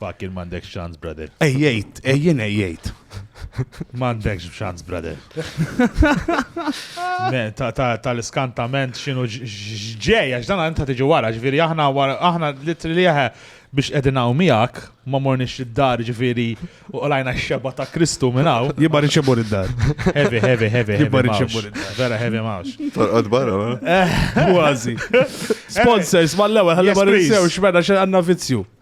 Fakir m'għandekx ċans, brother. Ejjejt, ejjien ejjejt. M'għandekx ċans, brother. Tal-iskantament x'inhu ġej, għax dan inta tiġi wara, ġifieri aħna aħna litri li jaħe biex qegħdin hawn miegħek, ma morniex id-dar ġifieri u qolajna x-xeba ta' Kristu minn hawn. Jibba riċebu id-dar. Heavy, heavy, heavy. Jibba riċebu id-dar. Vera heavy mawx. Torqod barra, ma? Eh. Kważi. Sponsors, mal-ewwel ħalli ma rinsew x'mena xi għandna vizzju.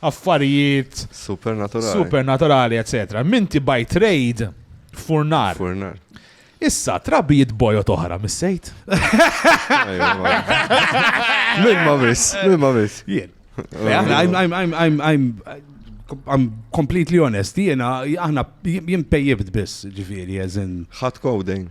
affarijiet supernaturali, supernaturali eċetera. Minti by trade furnar. Furnar. Issa, trabi jitbojot oħra, mis-sejt? Min ma bis, min ma bis. Jien. I'm completely honest, jena, aħna jien pejjibt biss, ġifiri, jazin. Ħat coding.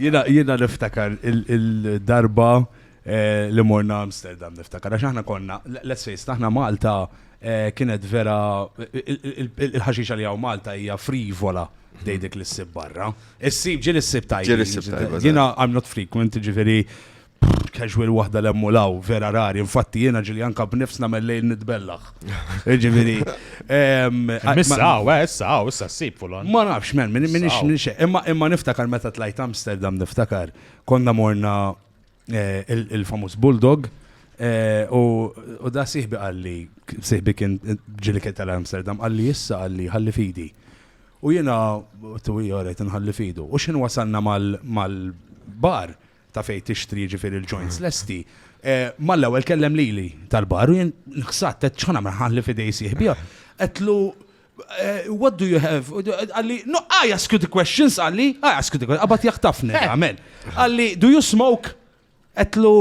Jiena jiena niftakar il-darba li morna Amsterdam niftakar għax aħna konna let's face it aħna Malta kienet vera il-ħaxixa li hawn Malta hija frivola dej dik li ssib barra. Issib ġieli ssib tajba. Ġieli ssib tajba. Jiena I'm not frequent ġifieri Pff, casual waħda l-hemm u law, vera rari. Infatti jiena ġili anka b'nifs nagħmel lejl nitbellaħ. Ġifieri. ehm, ma- Missa, għaw, eh, issa, għaw, issa s-sib fulon. Ma nafx, men, min- minix Saw. minix. Imma imma niftakar meta tlajt Amsterdam niftakar konna morna eh, il- il-famuż Bulldog eh, u u da siħbi għalli, siħbi kien ġili kien tal-Amsterdam, għalli issa għalli ħalli fidi. U jena, tu jgħoret nħalli fidu. U xin wasalna mal- mal-bar, ta' fejn tixtri jiġifieri l-joints lesti, mal-ewwel kellem lili tal-bar u jien nħsadt għedt x'ħa nagħmel ħalli f'idej sieħbi. Għedtlu what do you have? Għalli, no, I ask you the questions, għalli, I ask you the questions, għabat jaħtafni, għamel. Għalli, do you smoke? Għetlu,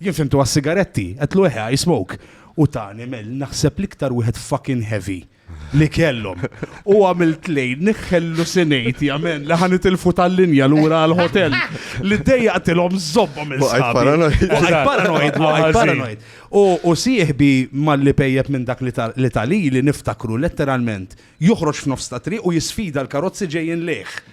jien fimtu għas-sigaretti, għetlu eħe, I smoke. U tani, mel, naħseb liktar wieħed fucking heavy. li kellhom. U għamilt lejn niħħellu sinejti għamen li ħan itilfu tal-linja l-ura għal-hotel li dejja għatilom zobba minn paranoid. U sieħbi mal-li pejjeb minn dak li tali li niftakru letteralment joħroġ f'nofs ta' triq u jisfida l-karozzi ġejjin leħ.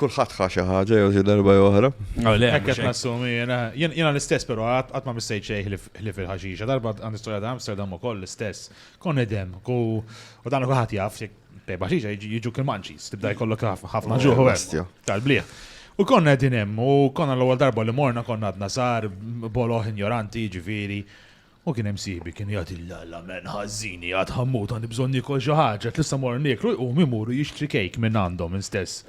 Kulħadd ħa xi ħaġa jew xi darba jew oħra. Hekk qed nassumi jien. Jiena l-istess però qatt ma missejt xejn ħlief il-ħaxixa. Darba għandi storja ta' Amsterdam ukoll l-istess. Kont nidem u dan kulħadd jaf bej ħaxixa jiġu kilmanċis, tibda jkollok ħafna ġuħ u tal-bliħ. U konna qegħdin hemm u konna l-ewwel darba li morna konna għadna sar boloħ injoranti ġifieri. U kien hemm sieħbi kien jgħid il-la men ħażini għad ħammut għandi bżonn niekol xi ħaġa tlissa mor nieklu jqum imuru jixtri cake minn għandhom instess.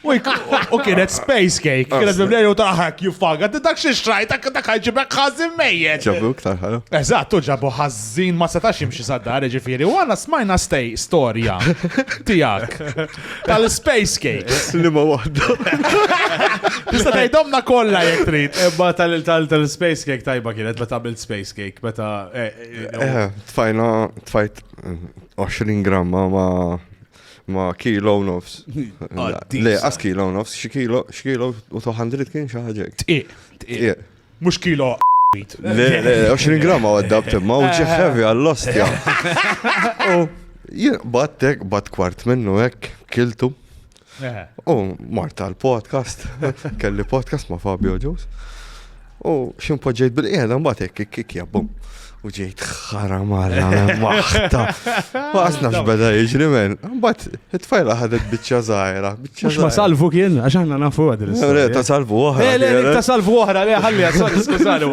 U kienet space cake kienet mimlejja u taħak you fuck għad dak xi xtrajt dak ħajġiblek ħażin mejjet. Ġabu iktar ħalu. Eżatt u ġabu ħażin ma setax jimxi sad-dar ġifieri u għana smajna stej storja tiegħek. Tal-space cakes. Li ma waħda. Tista' tgħidhomna kollha jekk trid. Ebba tal-space cake tajba kienet meta għamilt space cake meta. Eh, eh, eh, eh tfajna tfajt 20 gramma ma ma kilo nofs. Le, as kilo nofs, xi kilo, xi kilo u 200 kien xi ħaġa. Tqiq, tqiq. Mhux kilo wheat. Le, le, 20 gramma għadda b'temma u ġieħ heavy għall-ostja. U jien battek, bat kwart minnu hekk, kiltu. U marta l-podcast, kelli podcast ma' Fabio Ġus. U ximpoġġejt bil-qiegħda mbagħad hekk kikja bum. U ġejt xara marra minn waħda. Waqas nafx beda jiġri men. Bat, it-tfajla ħadet bicċa zaħira. Mux ma salvu kien, għax aħna nafu għad. Le, ta' salvu oħra. Le, le, ta' salvu oħra, le, ħalli għasol, skużani,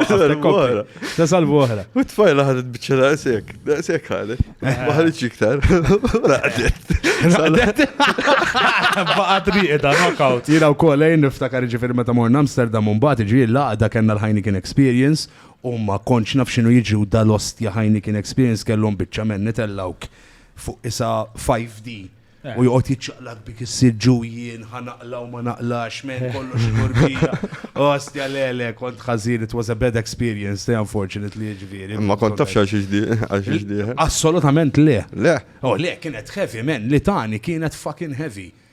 ta' salvu oħra. U t-tfajla ħadet bicċa da' sekk, da' sekk ħadet. Maħħalit iktar. Raqdet. Raqdet. Baqat riqda, knockout. Jina u kollejn niftakar ġifir meta morna Amsterdam un bat ġi l-laqda kena l-ħajni kien experience U ma kontx naf x'inhu jiġri u dal-ostja Heineken Experience kellhom biċċa menn itellgħuk fuq qisha 5D u joqgħod jiċċaqlaq bik issir ġujien ħa naqla' u ma naqlax menn kollox imur bija. Ostja le le kont ħażin it was a bad experience te unfortunately jiġifieri. Imma kont taf x'għal xiex għal xiex dieħel? Assolutament le. Le? Oh le kienet heavy menn li tani kienet fucking heavy.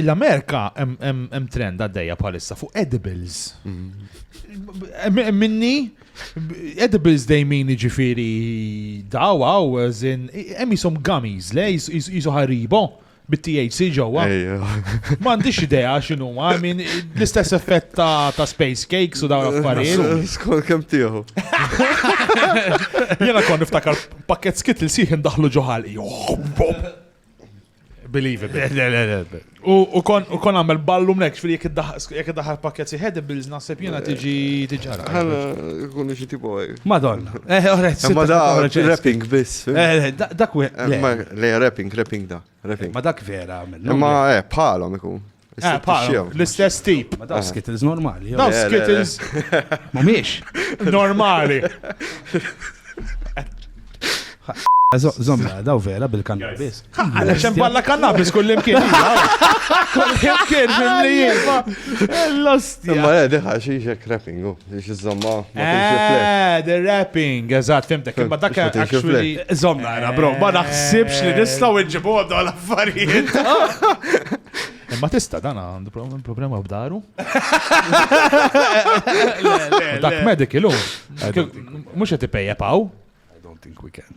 L-Amerika hemm trend għaddejja bħalissa fuq edibles. Mm-hmm. Minni, edibles dejmin ġifiri daw għaw, zin, hemm jisom gummies, le, jisu ħaribo bit-THC ġewwa. M'għandix idea x'inhu ma min l-istess effett ta' space cakes u dawn affarijiet. Skol kemm tiegħu. Jiena kon niftakar pakket skit li sieħ indaħlu ġoħal. Believe it. U kon għamel ballu mnek, fil jek id-daħar pakket si head bills naħseb jena eh, tiġi tiġara. Għana, kun iġi tipo għaj. Eh. Madonna. Eh, għorret. Ma da, rapping bis. Eh, dak we. Le, rapping, rapping da. Ma dak vera. Ma, eh, palom ikun. Eh, paru, l-istess tip. Ma daw skittles normali. jew- Daw Le, le, le. skittles Mumiex. normali. Zo- Zomma, daw vera bil-kannabis. Għana xem balla kannabis kullimkien. Kullimkien mill-li Imma le, diħa xiex hekk rapping. oh. Biex iż-żomma ma tinx il-flex. Eh, the wrapping, eżatt, fimtek. Imma dak Biex ma tinx il-flex. actually. Zomma għara, bro, ma naħsibx li nistaw nġibu għaddu għal-affarijiet. Imma tista' dan għandu pro- problema b'daru. Dak medical hu. Mhux qed ipejjeb hawn. I don't think we can.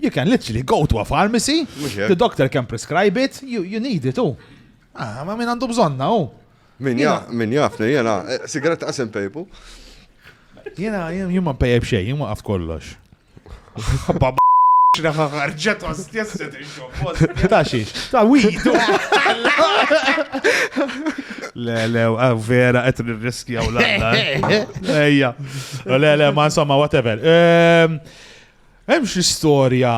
You can literally go to a pharmacy, the doctor can prescribe it, you, you need it, u. Ah, ma min għandu bżonna, u. Min jaf, min jafni, jena, eh, sigaret għasim pejpu. Jena, jumma pejb xej, jumma għaf kollox. ħarġet għastjesset il-xobbost. Ta' xiex, ta' widu. Le, le, ah, vera, għet nirriskja u l-għalla. Eh. Ejja. Le, le, ma' insomma, whatever. Ehm, Hemm xi storja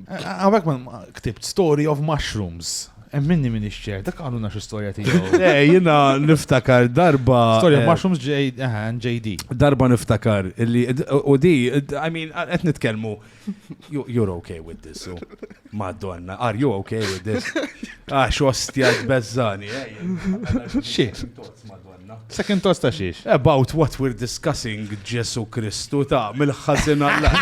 Għawek man ktibt Story of Mushrooms. Emminni minni xċer, dak għallu naxu storja tijaw. Eh, jina niftakar darba. Storja eh, Mushrooms JD. Eh, darba niftakar illi, u di, I mean, għet nitkelmu, you're okay with this, so. Madonna, are you okay with this? Ah, xostja bezzani. Xie? Second toast ta' xiex? About what we're discussing, Ġesu Kristu ta' mill-ħazin għalla.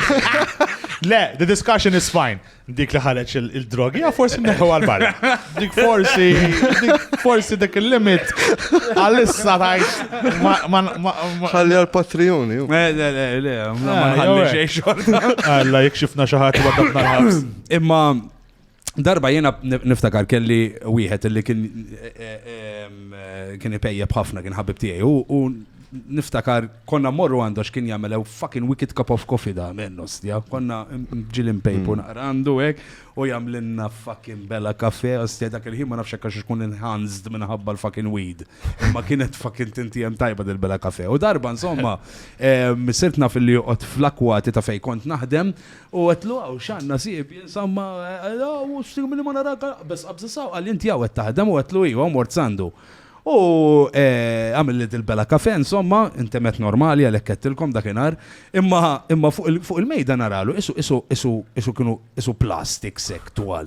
Le, the discussion is fine. Dik li ħareġ il-drogi, ja forsi neħu għal-barra. Dik forsi, forsi dik il-limit għal-issa tajx. Ħalli għal-patrijuni. Le, le, le, le, ma ħalli xej xorta. Għalla, jek xifna xaħat għadda Imma, Darba jiena niftakar kelli wieħed li kien kien ipejjeb ħafna kien ħabib tiegħi u niftakar konna morru għandu għax kien jagħmel fucking wicked cup of coffee da minn ostja. Konna ġili mpejpu hmm. naqra għandu hekk u jagħmlilna fucking bella kafe ostja dak il-ħin ma nafx għax ikun enhanced minħabba l-fucking weed. Imma kienet fucking tinti hemm tajba dil-bella kafe. U darba insomma sirtna fil-li joqgħod fl-akwati ta' fejn kont naħdem U għedtlu hawn x'għan nasib jien samma u x'tieħu minni ma narak aqbeż qabża saw qalli inti hawn qed taħdem u għedtlu iva u mort sandu. U għamilli dil-bela kafè insomma intemet normali għalhekk għedtilkom dakinhar imma imma fuq il-mejda naralu qisu qisu qisu qisu kienu qisu plastik sekk twal.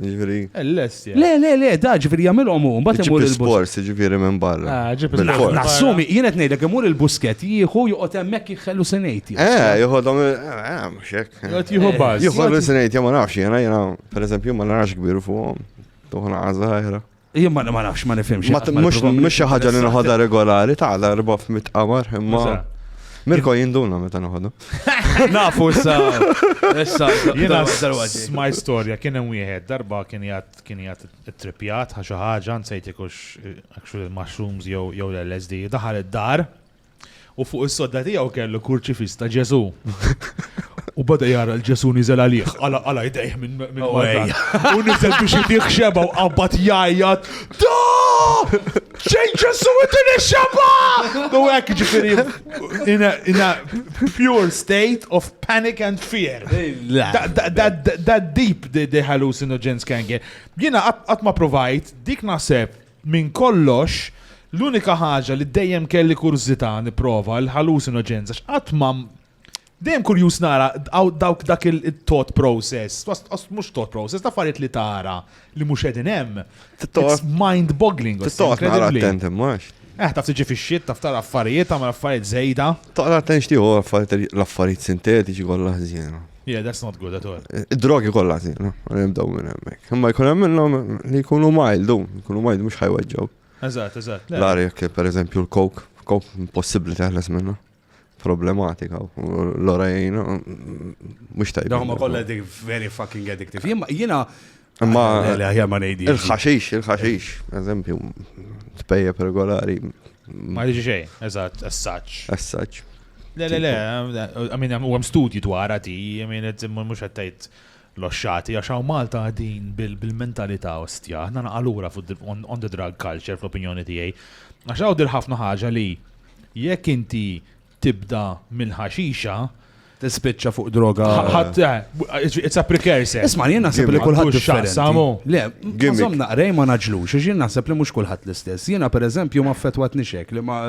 Ġifiri. L-lest jgħid. Le, le, le, da, ġifiri jagħmilhom hu, mbagħad imur Ġipi il-bus. spors, ġifiri minn barra. Ah, ġib Bil-fors. il-barra. Nassumi, jien qed ngħidlek imur il-busket jieħu joqgħod hemmhekk jħellu se ngħid. jien. Eh, jħodhom, eh, mhux hekk. Jgħod jieħu baż. Jħodhom li sinajt, ma nafx, jena, jena, per eżempju, ma narax kbir fuqhom. Tuħna għazza ħajra. Jien ma nafx, ma nifhimx. Mhux xi ħaġa li noħodha regolari ta' għala erba' f'mit qamar, imma. Mirko jinduna meta noħodha. Nafu issa. Issa. Jiena smaj storja kien hemm wieħed darba kien jgħat kien jgħat it-tripjat ħa xi ħaġa nsejt ikux actually mushrooms jew jew l-LSD daħal id-dar U fuq is-sodda tiegħu kellu kurċifiss ta' Ġesù. U bada jara l-ġesu nizel għalih, għala għala jdejh minn minn oh, U nizel biex jdih xeba u qabbat jajjat. Da! Xejn ġesu id-din xeba! U għek ġifiri, in a pure state of panic and fear. That deep the hallucinogens kange. Jina għatma provajt, dik naħseb Minn kollox, l-unika ħaġa li dejjem kelli kurżità nipprova, il-hallucinogens, għax qatt ma dejjem kurjuż nara dawk dak il-thought process, mhux thought process, ta' affarijiet li tara li mhux qegħdin hemm. Mind boggling. Tittoq nara attent imma. Eh, taf tiġi fix-xitt, taf tara affarijiet, tagħmel affarijiet żejda. Taqra attent x'tieħu l-affarijiet sintetiċi kollha ħżiena. Yeah, that's not good at all. Id-drogi kollha tiegħu, nibdew minn hemmhekk. Imma jkun hemm minnhom li jkunu mild, jkunu mild mhux ħajweġġgħu. Eżatt, eżatt. L-għar jekk pereżempju l-coke, coke impossibbli teħles minna. Problematika, l-ora jgħinu, mhux tajba. Dawn ma kollha dik very fucking addictive. Jiena Imma aħjar ma ngħidi. Il-ħaxix, il-ħaxix, eżempju, tpejjeb regolari. Ma jiġi xejn, eżatt, assaċ. Assaċ. Le, le, le, għamin u għam studji dwar għati, għamin mux għattajt l-oxxati, għax għaw Malta għadin bil-mentalita ostja, għanna naqalura on the drug culture fl-opinjoni tijaj. Għax għaw dir ħafna ħagġa li jekk inti tibda minn ħaxixa tispiċċa fuq droga. Ħadd, eh, it's a precursor. Isma' jien naħseb li kulħadd xaqsamu. Le, għazom naqrej ma naġlux, jien naħseb li mhux kulħadd l-istess. Jiena pereżempju ma fetwat nixek li ma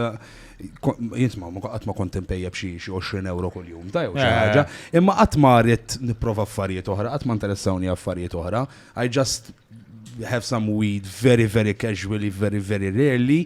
jisma' ma qatt ma kont impejjeb xi 20 euro kuljum, ta' jew xi eh. ħaġa, imma qatt ma rrid nipprova affarijiet oħra, qatt ma interessawni affarijiet oħra. I just have some weed very very casually, very very rarely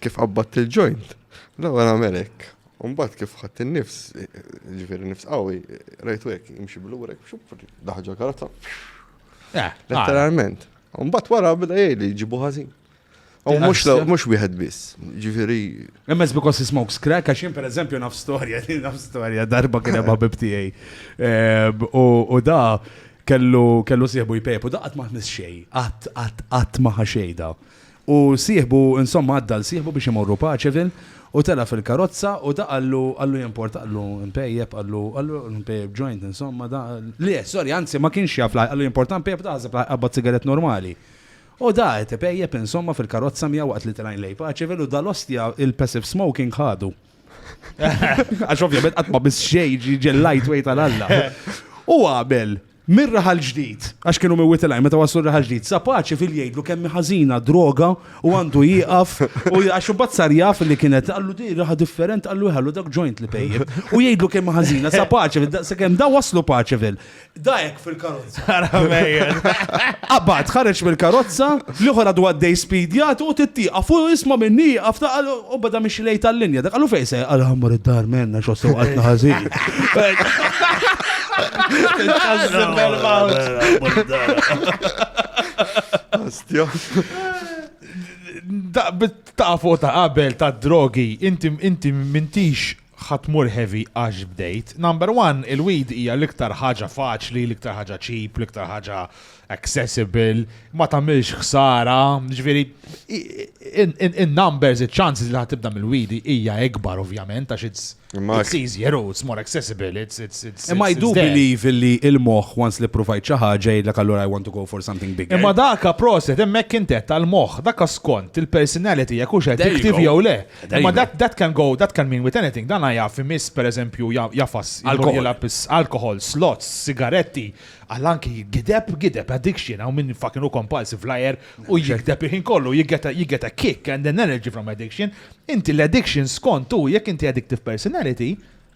Kif qabbadt il-ġojnt, l-ewwel għamel hekk. U mbagħad kif ħadt in-nifs, ġifieri nifs qawwi, rajtu hekk jimxi blurek, daħġa karozza. Eh, Letteralment. U mbagħad wara bda jgħid li ġibu ħażin. U mhux l- mhux wieħed biss, ġifieri Emmes because he smokes crack, għax jien per eżempju naf storja, naf storja, darba kien hemm ħabib tiegħi. Ehm, U u da kellu kellu sieħbu jpejp u da qatt ma ħnis xejn, qatt qatt qatt ma ħa xejn da. U sieħbu, insomma għadda għal sieħbu biex imorru Paceville, u tela' fil-karozza u da qallu, qallu jimport, qallu mpejjep, qallu, qallu mpejjep joint, insomma da, le, sorry, anzi ma kienx jaf la, qallu jimport mpejjep, da ħaseb la jqabbad sigarett normali. U da qed ipejjep, insomma, fil-karozza miegħu waqt li telgħin lejn Paceville u da l-ostja il-passive smoking ħadu. Għax ovvjament qatt ma miss xejn jiġi l-lightweight għal Alla. U għamel, Mir-Raħal Ġdid, għax kienu Miwitilaj, meta waslu r-Raħal Ġdid, sa paċi fil jgħidlu kemm hi ħażina d-droga u għandu jieqaf u għax imbagħad sar jaf li kienet qallu di raħa different qallu ħallu dak joint li pejjep. U jgħidlu kemm hi ħażina sa paċi sakemm da waslu paċi fil. Da hekk fil-karozza. Qabad ħareġ mill-karozza L-ieħor għadu għaddej speed jagħti u tittieqaf u jisma' minni jieqaf ta' qal u beda mixi lejn tal-linja. Dak qalu fejn se qal ħammur id-dar minn għax wassew qaltna ħażin. Astja. Da- bit- ta' fuq ta' qabel ta' drogi, inti inti mintix Ħa tmur heavy għax bdejt. Number one, il-weed hija l-iktar ħaġa faċli, l-iktar ħaġa cheap, l-iktar ħaġa accessible, ma tagħmilx ħsara, jiġifieri in-numbers, iċ-chances li ħa tibda mill-weed hija ikbar ovvjament għax it's It's easier, oh, it's more accessible, it's it's it's. Imma I do believe li il-moħħ once li provajt xi ħaġa jgħidlek allura I want to go for something bigger. Imma daka proset hemmhekk intet tal-moħħ, daka skont il-personality jekk hux qed tiktib jew le. Ma that, that can go, that can mean with anything. Dan jaf imiss per eżempju jafas alkohol, slots, sigaretti, għallanki gideb, gideb, addiction, għaw minn fucking u compulsive flyer u jigdeb iħin kollu, jigeta kick and an energy from addiction. Inti l-addiction skont u jek inti addictive personality,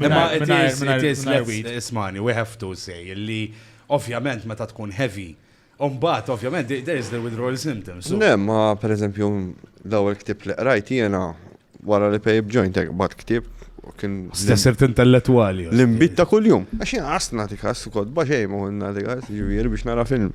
Imma it is, it is, ismani, we have to say, li ovvjament meta tkun heavy, Umbat, ovvjament, there is the withdrawal symptoms. Ne, ma per eżempju, l-ewwel ktib li qrajt jiena wara li pejb joint bat ktib kien. Stessert intellettuali. L-imbit ta' kuljum. Għax jiena għasna tikas u kodba xejn ma għunna tikas, ġivir biex nara film.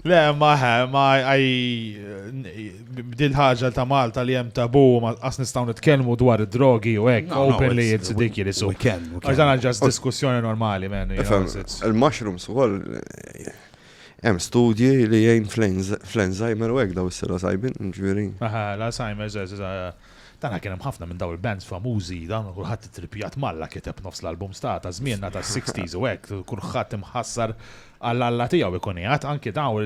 Le, ma ma għaj bdil ħaġa ta' Malta li jem tabu ma qas nistaw nitkellmu dwar id-drogi u hekk openly it's ridiculous. We can. Għaxan ġas diskussjoni normali, men. Il-mushrooms u għol Hemm studji li jgħin fl-Alzheimer u hekk daw s-psilocybin, ġifieri. Aha, l-Alzheimer's, Tara kien hemm ħafna minn dawn il-bands famużi, dawn kulħadd ittrippjat m'Alla kiteb nofs l-albums ta' ta' żmienna tas-sixties u hekk, kulħadd imħassar għal Alla tiegħu ikun qiegħed, anke dawn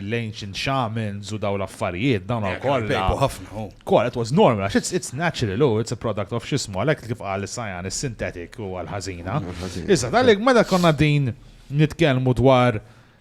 l-ancient shamans u dawn l-affarijiet, dawn kollha. Kienu jpejpu ħafna, hu. Kollha, it was normal għax it's it's natural, hu, it's a product of x'ismu, għalhekk kif qal is-Sajan is-synthetic huwa l-ħażina. Issa, meta konna qegħdin nitkellmu dwar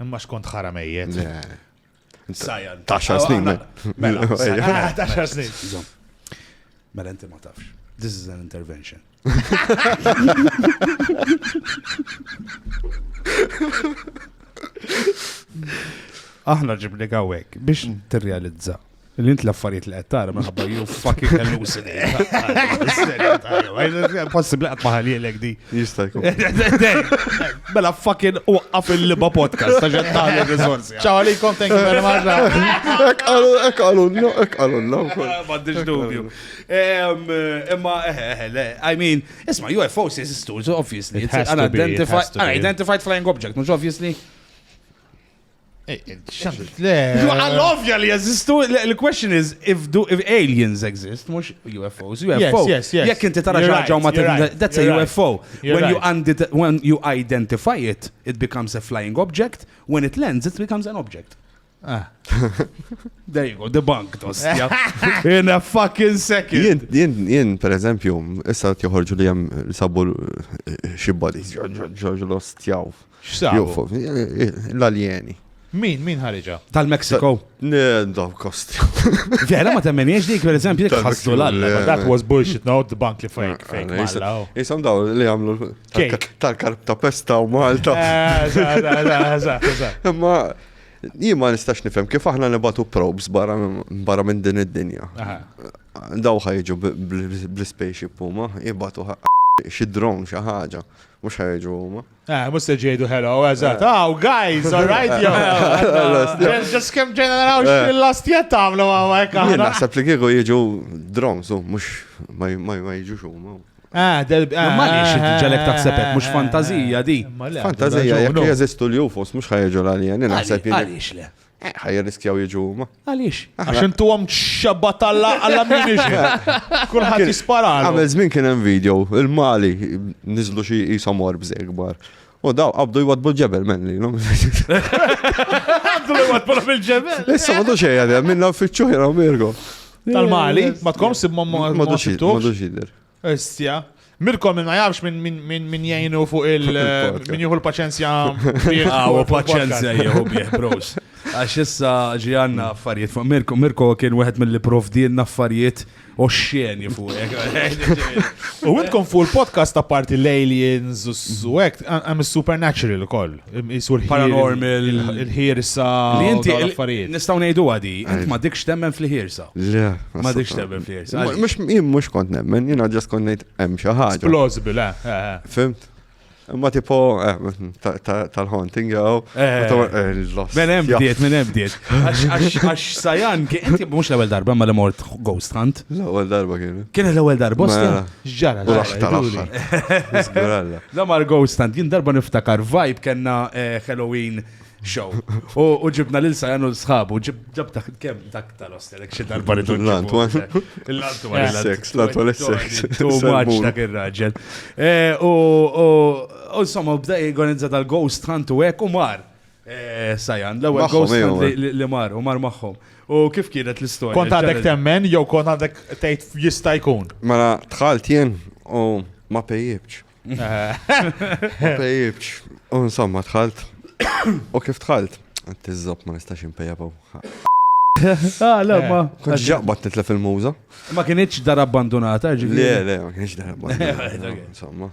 Imma xkont ħara mejjet. Sajan. Taxar snin. Mela, taxar snin. Mela, inti ma tafx. This is an intervention. Aħna ġibni għawek biex t-realizza Li int l-affarijiet li qed tara minħabba you fucking hallucinate. Possibbli qatt ma ħalilek di. Jista' jkun. Mela fucking waqqaf il-liba podcast ta' ġed tagħmel riżorsi. Ciao għalikom, thank you very much. Ek qalu, ek qalu, no, ek qalu, no. M'għandix dubju. Em, Imma, eh, eh, le, I mean, isma' UFOs jesistu, so obviously. It It's has to be, it unidentified, has to be. unidentified flying object, mhux obviously. Eh, eh, Xandrit, le. Għall-ovja li jazistu, l-question is, if, do, if aliens exist, mux UFOs, UFO. Yes, yes, Jek inti tara ġaġa ma that's a UFO. When you, when you identify it, it becomes a flying object. When it lands, it becomes an object. Ah. There you go, the bank dostja. In a fucking second. Jien, jien, jien, per eżempju, issa t-joħorġu li jem sabu eh, xibba li ġoġoġoġ l-ostjaw. X'sabu? L-aljeni. Min, min ħariġa? Tal-Mexico. Daw kosti. Vera ma temmeniex dik, per eżempju, jek ħassu l-alla. That was bullshit, no, the bank li fake, fake malla. Jisam daw li għamlu tal-karb ta' pesta u Malta. Eh, ma jien ma nistax nifhem kif aħna nibatu probes barra minn din id-dinja. Daw ħajġu bl-spaceship huma, jibatu xi drone xi ħaġa, mhux ħajġu huma. Eh, mux se ġejdu hello, eżat. Eh. Oh, guys, all right, yo. Just kem ġejna naraw eh. xil-last jett għamlu għawek. Jien naħseb li kieku jieġu drones, mux ma jieġu xumma. Ah, del ah, ma nix ah, ġalek taħsebek, mux ah, fantazija di. Fantazija, jek jeżistu l-UFOs, mux ħajġu l-għalija, nina ħseb jien. Għalix le. Eh, ħa jirriskjaw jiġu huma. Għaliex? Għax intuhom xabba talla għalla ammunition. Kulħadd jispara. Għamel żmien kien hemm video, il-Mali niżlu xi jisom orbs ikbar. U daw qabdu jwadbu ġebel men li. Qabdu jwadbu fil-ġebel. Issa ma xejn għadha minna uffiċċju jraw mirgo. Tal-Mali, ma tkomx sib ma ma xidder. Issja. Mirkom ma jafx minn min, min, min jgħinu fuq il. Min jieħu l-paċenzja. Għaw, ah, paċenzja jieħu bieħ, bros. Għax issa ġi għanna affarijiet fuq Mirko. Mirko kien wieħed mill-li provdilna affarijiet u xxeni fuq. U għidkom fuq il-podcast ta' parti l-aliens u għek, għam il-supernatural koll. Isu l-paranormal. Il-ħirsa. Li inti l-affarijiet. Nistaw nejdu għadi, int ma dikx temmen fl-ħirsa. Le. Ma dikx temmen fl-ħirsa. Mux jim mux kont nemmen, jina ġas kont nejt hemm xi ħaġa. Plausible, eh, eh, eh. Fimt? Ma tipo tal-haunting jew. Minn hemm bdiet, minn hemm bdiet. Għax sajan, inti mhux l-ewwel darba ma li mort ghost hunt. L-ewwel darba kien. Kien l-ewwel darba. Mela. X'ġara? Raħ tal-aħħar. Żguralla. La Margo stand, jien darba niftakar vibe kellna eh, Halloween show. U ġibna lil Sajan u sħabu, ġib dak kemm dak tal-ostelek xi darba li tul. L-antwan. L-antwan. Sex, l-antwan sex. Tu maċ dak ir-raġel. Eh, u insomma, bda jgħonizza tal-ghost hunt u hekk u mar. Sajan, l-ewwel Magħhom, ghost ejjew. hunt li- li mar u mar magħhom. U kif kienet l-istorja? Kont għadek Ġara- temmen jew kont għadek tgħid jista' jkun. Mela dħalt jien u ma pejjibx. Ma pejjibx. U insomma dħalt. U kif dħalt? Għad iżob ma nistax impejjabu. Ah, le, ma. Kont ġaqbat nitlef il-muża. Ma kienieċ dar abbandonata, Le, ġifieri. le, ma kienx darba. Insomma.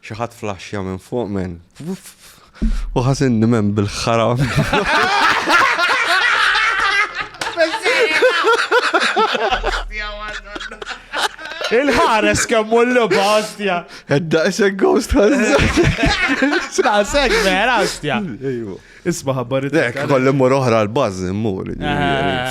Xi ħadd flaxxja minn fuq men. U ħasinni men bil-ħaram. Il-ħares kemm mullu bastja. Edda isek ghost ħares. Ta' sek vera bastja. Isma ħabbar id Dek, kolli mur oħra l-bazz, mur.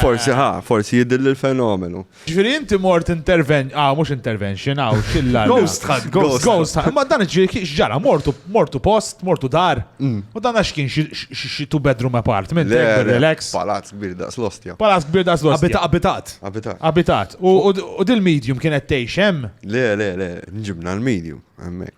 Forsi ħa, forsi jidilli l-fenomenu. Ġifieri inti mort interven, ah mhux intervention, ah xilla. Ghost hunt, ghost. Ghost hunt, ma dan ġifieri x'ġara, mortu mortu post, mortu dar. Mm. U dan għax kien xi two bedroom apartment, eh, relax. Palazz kbir daqs l-ostja. Palazz kbir daqs l-ostja. Abitat. Abitat. Abitat. U dil-medium kienet tgħix hemm? Le, le, le, nġibna l-medium hemmhekk.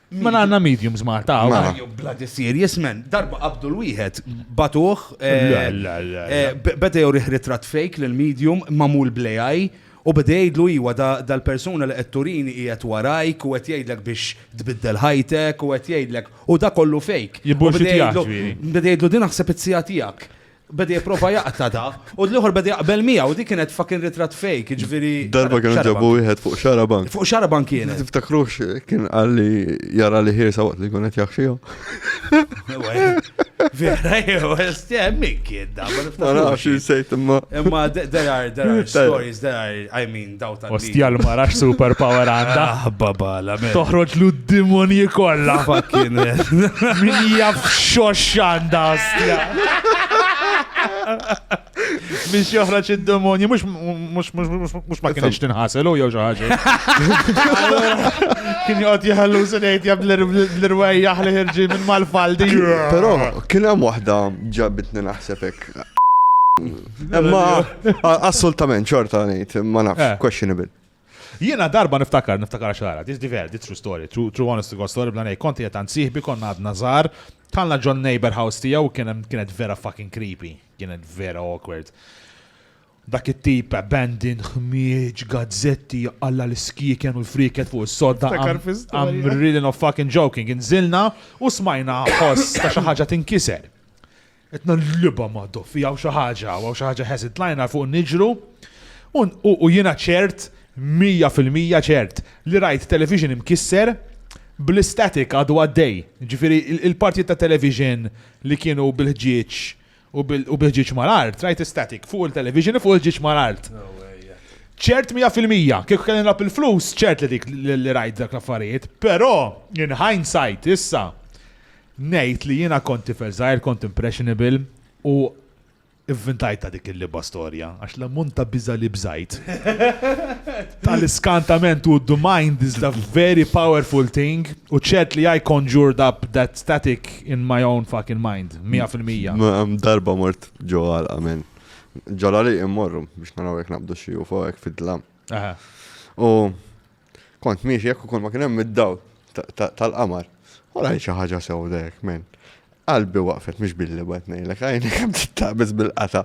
Ma għandna mediums Malta hawn. Mela. Jew bloody serious man. Darba qabdu l-wieħed batuh. eh, La, la, la, eh, la. b- Beda jurih ritratt fake lil medium mamul bl-AI u beda jgħidlu iwa da- dal-persuna li qed turini qiegħed warajk u qed jgħidlek biex tbiddel ħajtek u qed jgħidlek u da kollu fake. U beda Jibbullshitjah, jgħidlu- ġifieri. Beda jgħidlu din naħseb it-sija tiegħek. Beda jipprova jaqta da, u l-ieħor beda jaqbel miegħu, dik kienet fucking ritratt fake, ġifieri. Darba kienu ġabu wieħed fuq xaraban. Fuq xaraban kienet. Tiftakrux kien qalli jara li ħirsa waqt li kunet jaħxihom. Vera jew estjem min kien da, ma nafx insejt imma. Imma there are there are stories, there are I mean Ostja l-mara super power għanda. Aħbabala, ah, Toħroġ lu d-dimoni kolla. Fucking. Min jaf xox għanda, ostja. Mix joħraċ id-demoni, mux ma kienx tinħasel u jew xaħġa. Kien jgħot jħallu s-nejt jab l-irwej jaħli ħirġi minn mal-faldi. Pero, kien hemm waħda ġabitni naħsebek. Imma assolutament xorta ngħid, ma nafx, eh. questionable. Jiena darba niftakar, niftakar xara, this diver, this true story, true, true honest to God story, bla nej, konti jetan siħbi, konna għadna zar, talna ġon neighbor house tijaw, kienet vera fucking creepy, kienet vera awkward. Dak it-tip abandoned, ħmieġ, gazzetti, għalla l-skiken u l-friket fuq s-sodda. I'm really not fucking joking. Inżilna u smajna ħoss ta' xi ħaġa tinkiser. Qed nagħlibha ma' Doffi, hawn xi ħaġa, hawn xi ħaġa ħeżin. Tlajna fuq niġru u jiena ċert, mija fil-mija ċert, li rajt television imkisser bl-istatic għadu għaddej. Ġifieri il-partijiet ta' television li kienu bil-ħġieġ u bil-ħġieġ mal-art, rajt istatic fuq il-television u fuq il-ħġieġ mal-art. ċert mija fil-mija, kieku kelli nilgħab il-flus, ċert li dik li rajt dak l-affarijiet. Però, in hindsight, issa, Ngħid li jiena kont tifel żgħir, kont impressionable u ivvintajtha dik il-libgħa storja għax l-ammont ta' biża' li bżajt tal-iskantament u the mind is the very powerful thing u ċert li I conjured up that static in my own fucking mind, mija fil-mija. Darba mort ġo għalqa men. Ġo l-għaliq immorru biex naraw jekk naqbdu xi UFO hekk fid-dlam. U Kont miexi jekk ukoll ma kien hemm id-dawl tal-qamar. U rajt xi ħaġa sewda hekk men. Qalbi waqfet mhux billi wet ngħidlek għajni kemm tittabis bil-qata.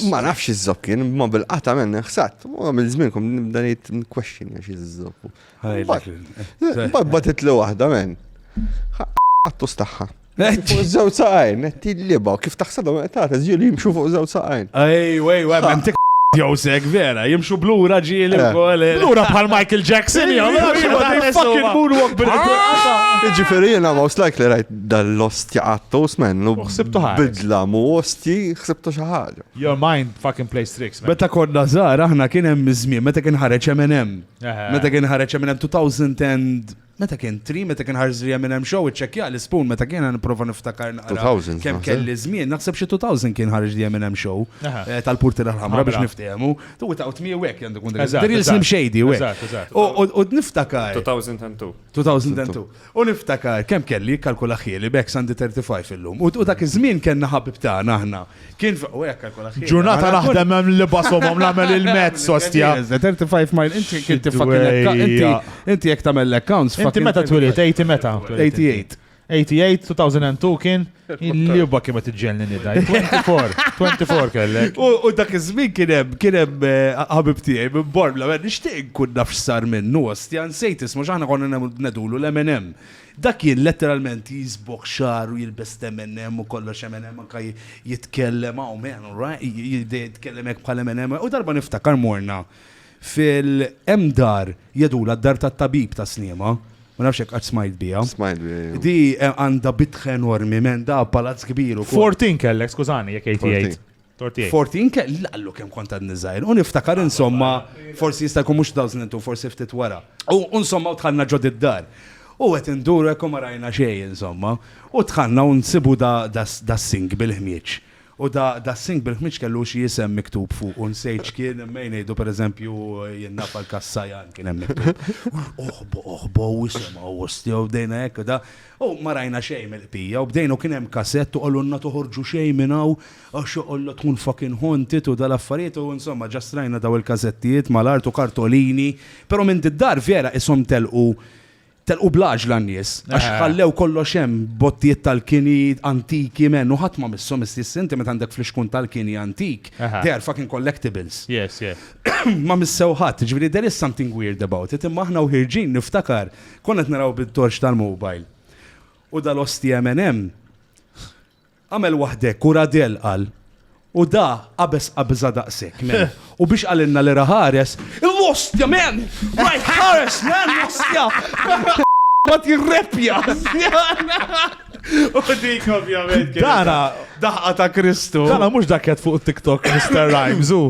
Ma nafx iż-żob kien, ma bil-qata men ħsat. U għamil żmien kom nibda ngħid question għax iż-żob. Bad li waħda men. Għattu staħħa. Fuq żewġ saqajn, qed jilliba, kif taħsebhom qed tagħta żjur li jimxu fuq żewġ saqajn. Ej, wej, wej, hemm tik jowsek vera, jimxu blura ġieli wkoll. Blura bħal Michael Jackson, jew fucking moonwalk bil Ġifieri jiena most likely rajt dal-osti għattu smennu. Xsibtu ħaġa. Bidla mu osti, xsibtu xi ħaġa. Your mind fucking plays tricks. Meta konna żgħar aħna kien hemm żmien meta kien ħareġ Eminem. Meta kien ħareġ Eminem 2000 Meta kien tri, meta kien ħarż li hemm show, iċċekkja l-ispun meta kien għan prova niftakar naqra. Kemm kelli żmien, naħseb xi 2000 kien ħarġ li hemm show eh, tal-purti l-ħamra biex niftehmu. Tu ta' utmi u hekk għandu kun dik. Diril slim xejdi u hekk. U niftakar. 2002. 2002. U niftakar kemm kelli kalkula ħieli bek sandi 35 illum. U dak iż-żmien kellna ħabib tagħna aħna Kien fuq u hekk kalkola ħin. Ġurnata naħdem hemm li basom hemm nagħmel il-mezz sostja. 35 mile inti kien tifakilek inti inti jekk tagħmel l-accounts. Inti meta twilit 80 meta? 88. 88, 2002 kien il-liba kiemet iġġelni nida. 24, 24 kellek. U dak iż-żmien kien hemm kien hemm eh, ħabib tiegħi minn Bormla, ma nixtieq nkun naf x'sar minnu ostja nsejt ismu x'aħna konna nedulu l-M&M. Dak jien letteralment jiżbogħ xagħar u jilbes l-M&M u kollox M&M anke jitkellem hawn man alright jibda jitkellem hekk bħal M&M u darba niftakar morna fil hemm dar jgħidulha d-dar tat-tabib ta' Sliema ma nafx jekk qatt smajt biha. Smajt biha. Di għandha bitħa enormi man da palazz kbir ukoll. Fortin kellek skużani jekk għidt jgħid. Forti, inkella qallu kemm kont għadni żgħir, u niftakar insomma, forsi jista' jkun mhux 2002, forsi ftit wara. U insomma, u dħalna ġod id-dar. U qed induru hekk u ma rajna xejn insomma. U dħalna u nsibu das-sink bil-ħmieġ. U das-sink bil-ħmieġ kellu xi isem miktub fuqu, nsejt x'kien, imma jien ngħidu pereżempju, jien naf għal Kas Sajan kien hemm miktub. Oħbo, oħbo, u isimgħu, ostja, u bdejna hekk u da. U ma rajna xejn mill-qbija u bdejna u kien hemm kasett u qalulna toħorġu xejn minn hawn għax joqgħodla tkun fucking haunted u dal-affarijiet u insomma just rajna daw il-kasettijiet mal-art u kartolini però minn did-dar vera qishom telqu telqu bl-għaġla n-nies għax ħallew kollox hemm bottijiet tal-kini antiki men u ħadd ma misshom iss inti meta għandek flixkun tal-kini antik they are fucking collectibles ma missew ħadd jiġifieri there is something weird about it imma aħna u ħierġin niftakar Konna qed naraw bit-torċ tal-mobile. U dal-osti MNM għamel waħdek u radel qal U da qabes qabża daqsek, men. U biex għalinna li raħares, il-mostja, men! Right, ħares, men, mostja! Ma tirrepja! U dik ovvjament. Dara, daħqa ta' Kristu. Dara mhux daket fuq TikTok Mr. Rhymes, u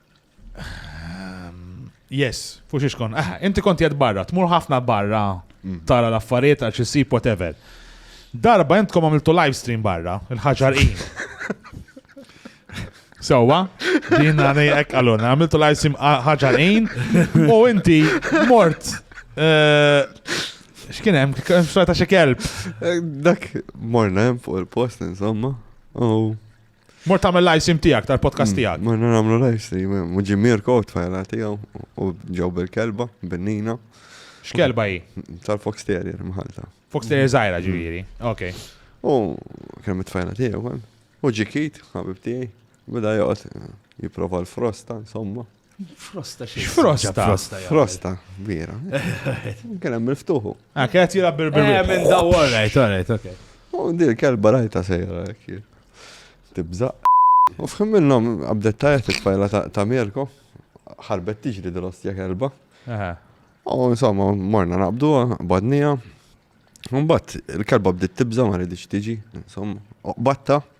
Yes, fux iċkon. Ah, inti konti għed barra, tmur ħafna barra mm. tara l-affarijiet għal xisib whatever. Darba jentkom għamiltu live stream barra, il-ħagġar in. Sewa, din għani ek għalun, għamiltu live stream ħagġar in, u inti mort. Eh, x'kien hemm, xorta xi kelb. Eh, dak morna hemm fuq il-post insomma. U Mort tagħmel live sim tiegħek tal-podcast mm, tiegħek. Morna nagħmlu live sim, eh, muġi Mirko tfajla tiegħu u ġew bil-kelba, binnina. X'kelba hi? Tal-Fox Terrier mħalta. Fox Terrier żgħira ġifieri. Ok. U kemm it-tfajla tiegħu, eh. u ġikit, ħabib tiegħi, beda joqgħod eh, jipprova l-frosta, insomma. Frosta xie. Frosta. Frosta. Frosta, vera. Kien hemm il-ftuħu. Ah, kien qed jilgħab bil Eh, minn daw, all right, all right, okay. U dir kelba rajta sejra hekk. Tibżaq. U fħim minnhom qabdet tajja titfajla ta' Mirko. Ħarbet tiġri dil-ostja kelba. U insomma, morna naqbdu, badnija. Mbagħad il-kelba bdiet tibża ma rridx tiġi, insomma, oqbatta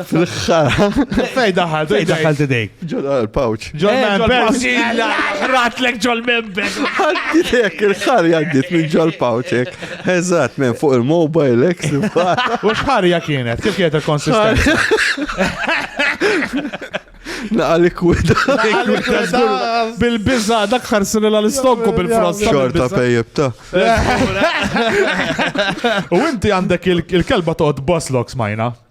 L-ħħara. Fej daħal, fej daħal t-dejk. Ġol eh, pouch Ġol members. Ratlek ġol members. Għaddilek, il-ħar jaddit minn ġol pouchek. Eżat, men fuq il-mobile, ek U xħarja kienet, kif kienet il-konsistenza? Naqa likwida. Bil-bizza, dak ħarsin l-istokku bil-frost. Xorta pejjeb ta' U inti għandek il-kelba toqgħod boss loks majna.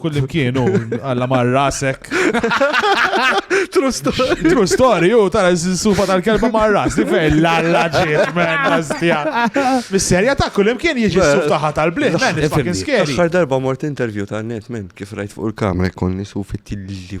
Kull imkien u għalla mar rasek. True story. True story, u tara s-sufa tal-kelba mar ras, li fej l-alla ġiet menna stja. Mis-serja ta' kull imkien jieġi s-suf taħħa tal-bliħ, men, it's fucking scary. Aħħar darba mort interview ta' net, men, kif rajt fuq il-kamra jkolli sufi tilli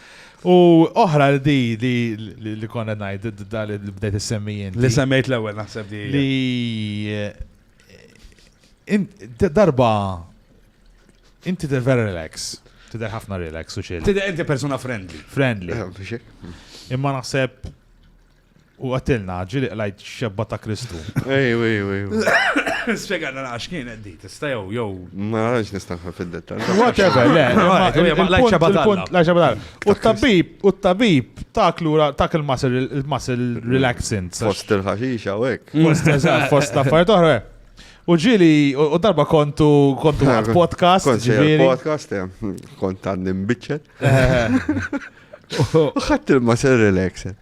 U oħra li di li li li konna ngħid d- da li li bdejt issemmi Li inti. semmejt l-ewwel naħseb di. hija. Li eh, in- d- darba inti tidher vera relax, tidher ħafna relax u chill. Tidher inti persuna friendly. Friendly. Imma naħseb U għatilna, ġili qlajt xebba ta' Kristu. Ejw, ejw, ejw. Spiegħalna naqax kienet di, tista' jew, jew. Ma għax nistanħa fil-dettal. Whatever, le. Lajt xebba tal-la. U t-tabib, u t-tabib, tak l-ura, tak il-muscle relaxant. Fost il-ħaxixa u ek. Fost, eżat, fost l-affarijiet oħra. U ġili, u darba kontu, kontu għad podcast. Kontu podcast, kont għad nimbiċċet. U xatt il-muscle relaxant.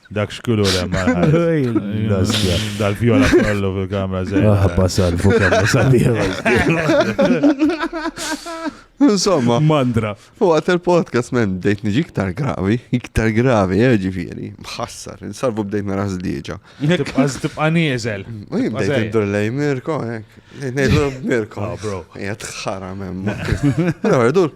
Dak xkulur hemm Dal-fjola kollu fil-kamra żejn. Ah, passar fuq kamra sabiħ. Insomma. Mandra. U għat il-podcast men bdejt niġi iktar gravi, iktar gravi, eh, ġifiri. Mħassar, insarvu bdejt nara zdieġa. Tibqa nieżel. Bdejt iddur lej Mirko, ek. Nejdu Mirko. Ah, bro. Jgħat xara men. Għardur,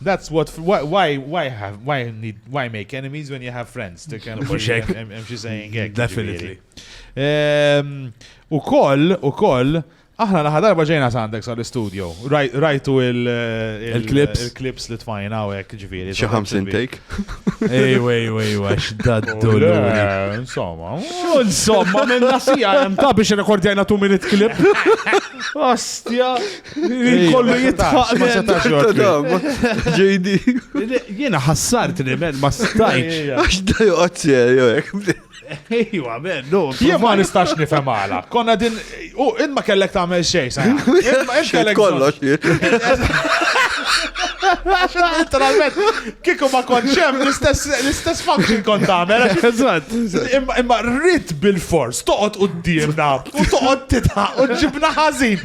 That's what why why have why need why make enemies when you have friends. Hemm xi saying hekk. Definitely. Ehm, u koll, u koll, aħna laħa darba ġejna sandex għal studio Rajtu il-clips. Il-clips li tfajna u hekk ġifieri. Xi 50 take. Ej, ej, ej, għax daddu. Insomma, insomma, minn nasija hemm ta' biex rekordjajna 2 minute clip. Ostja. Kollu jitħaq. Ma setax JD. Jena ħassart li men ma stajċ. Għax da joqgħod serju Ejwa, men, no. Jien ma nistax nifhem għala. Konna din, u in ma kellek tagħmel xejn, sa. Kellek kollox. Literalment, kiku ma konċem l-istess function kont tagħmel. Eżatt. Imma rrit bil-fors, toqgħod qudiemna u toqgħod titħaq u ġibna ħażin.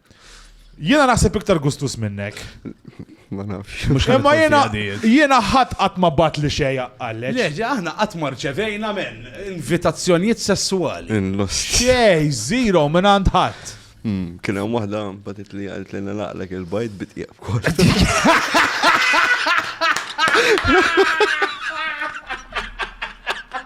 Jiena naħseb iktar gustus minnek. Ma nafx. Mux Imma jiena jiena ħadd qatt ma bat li xejja għallex. Leġi, aħna qatt ma rċevejna men invitazzjonijiet sessuali. Inlost. Xej, zero minn għand ħadd. Hmm, kien hemm waħda batit li għalt li naqlek il-bajt bit jgħab kol.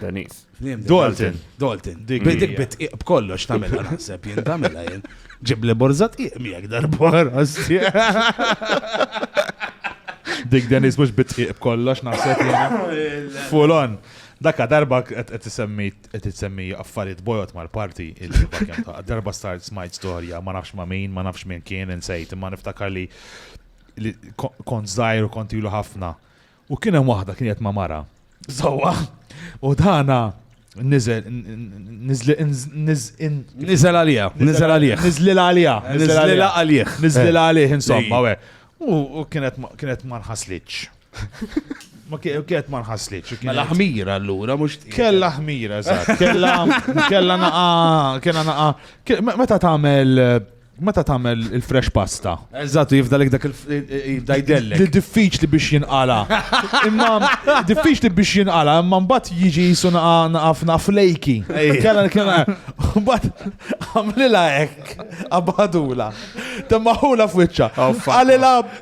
Daniż. Dalton. Dalton. Dik bit iq b'kollox tagħmilha naħseb jien tagħmilha jien. Ġib li borzat iq miegħek darbor. Dik Daniż mhux bit iq b'kollox naħseb jien. Full on. Dakka darba qed tisemmi qed tisemmi affarijiet bojot mal-parti darba start smajt storja ma nafx ma' min, ma nafx min kien insejt, imma niftakar li kont żgħir u kont ilu ħafna U kien hemm waħda kienet ma' mara. Sewwa, u dana niżel niżel għalija, niżel għalija. Niżlil għalija, niżlil għalija. Niżlil għalija, insomma, we. U kienet ma nħaslitx. Ma kienet ma nħaslitx. Kella ħmira allura, mux. Kella ħmira, eżatt. Kella, kella naqa, kella naqa. Meta tagħmel Meta tagħmel il-fresh pasta? Eżatt, jifdalek dak il-jibda jdellek. Diffiċli biex jinqala. Imma diffiċli biex jinqala, imma mbagħad jiġi jisu naqaf naqaf lejki. Kella kien mbagħad għamlilha hekk, abadula. Temmaħula f'wiċċa. Għalilha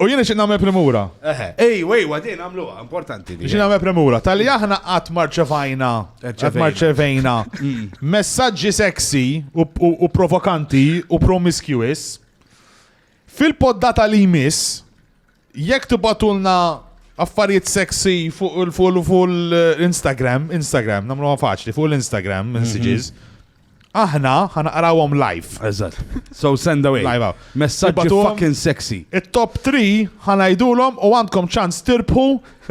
U jien nixtieq nagħmel premura. Eħe, ejwa, ejwa, din għamluha, importanti. Nixtieq nagħmel premura. Tal-li aħna qatt marċevajna, qatt marċevejna mm. messaġġi sexy u provokanti u promiscuous. Fil-poddata li jmiss, jekk tibatulna affarijiet sexy fuq l-Instagram, Instagram, namlu faċli, fuq l-Instagram, mhm. messages, Aħna ħa naqrawhom live. Eżatt. So send away. Live hawn. Messaġġi Ibatuhom. fucking sexy. It-top 3 ħa ngħidulhom u għandkom ċans tirbħu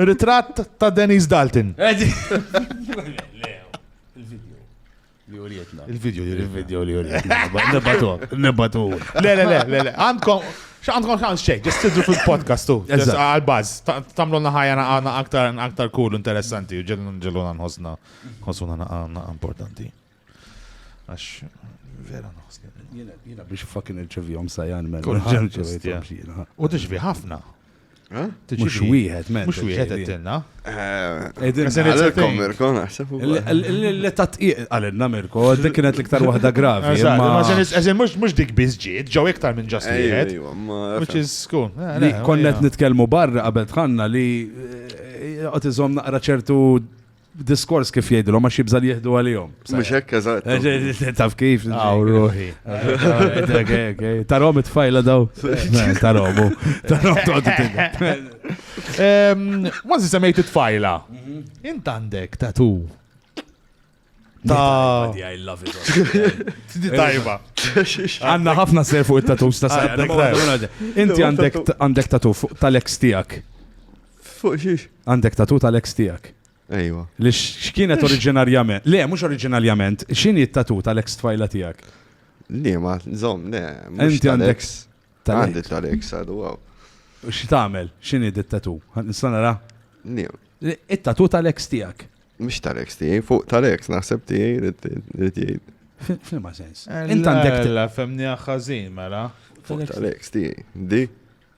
ritratt ta' Denise Dalton. Li urietna. Il-video li Il-video li urietna. Nibbatu. Nibbatu. Le, le, le, le, le. Għandkom, xa għandkom ċans xejn, ġest tidru fil-podcast tu. Ġest Eżatt. għal-baz. Tamlonna ħajja na aktar, aktar cool, interessanti, u ġellun ġelluna nħosna. Konsuna naqa naqa importanti. Għax, vera naħsni. Jina biex fakin il-ċevijom sajan men. U tiġvi ħafna. Eh? Mux wieħed, men. Mux wieħed għettilna. Eh, Edin, għalkom Mirko, naħseb. L-letta tqiq għalinna Mirko, dik kienet l-iktar wahda gravi. Eżin, mux dik bizġiet, ġaw iktar minn ġast wieħed. Which is cool. Eh, Konnet nitkelmu barra qabel tħanna li għatizom naqra ċertu Diskors kif jgħidilhom għax jibża' li jieħdu għalihom. Mhux hekk eżatt. Eh, eh, eh, taf kif? Aw ruħi. Tarhom it-tfajla daw. Tarhom. Tarhom Kważi semmejt it-tfajla. Mhm. Int għandek tatu. Ta' I love it. Tajba. Għanna ħafna ser fuq it-tatus ta' sa' Inti għandek tatu fuq tal-ex tijak. Fuq xiex? Għandek tatu tal-ex tiegħek. Ejwa. Li x'kienet oriġinarjament. Le, mhux oriġinarjament, x'inhi t-tatu tal-ex tfajla tiegħek? Li ma, zom, le. Inti għandek. Għandi tal-ex għadu, għaw. Xi tagħmel? X'inhi dit-tatu? Nista' nara? Li. It-tatu tal-ex tiegħek. Mhux tal-ex tiegħi, fuq tal-ex naħseb tiegħi li tgħid. F'liema sens. Eh, Int għandek. La femni ħażin mela. Fuq tal-ex tiegħi. Di.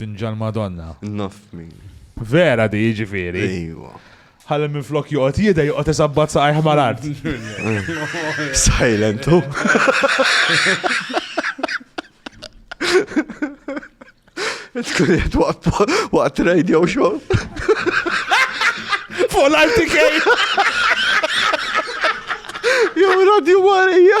Tinġa l-Madonna. Naf min. Vera di jiġifieri. Ejwa. Ħalli minn flok joqgħod jidha joqgħod isabbat saqajh mal-art. Silent hu. Tkun qed waqt radio show. Fuq l-RTK. Jew radio warija.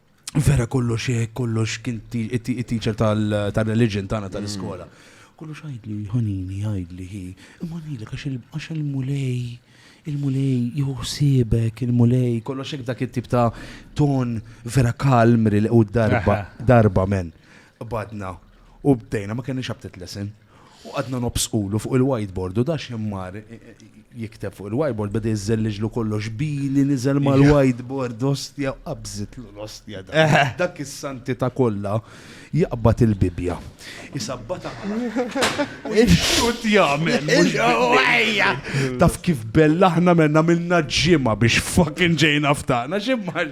Vera kollox eh, kollox kien teacher tal-religion tagħna tal-iskola. Mm. Kollox għajdli, ħanini, għajdli, hi. Imma ngħidlek għax il-mulej, il-mulej jħossibek, il-mulej, kollox hekk dak it-tip ta' ton vera kalm u darba, darba men. Badna. U bdejna ma kenniex abtet lesson. U qgħadna nobsqulu fuq il-whiteboard u da x'imkien mar jikteb fuq il-whiteboard beda jiżżelliġlu kollox bili niżel mal-whiteboard ostja u qabżitlu l-ostja dak is-santità kollha jaqbad il-Bibbja. Isabbatha u jixxutt jagħmel mhux bil-Ejja! Taf kif bellahna menna għamilna ġimgħa biex fucking ġejna ftaqna x'imkien mar.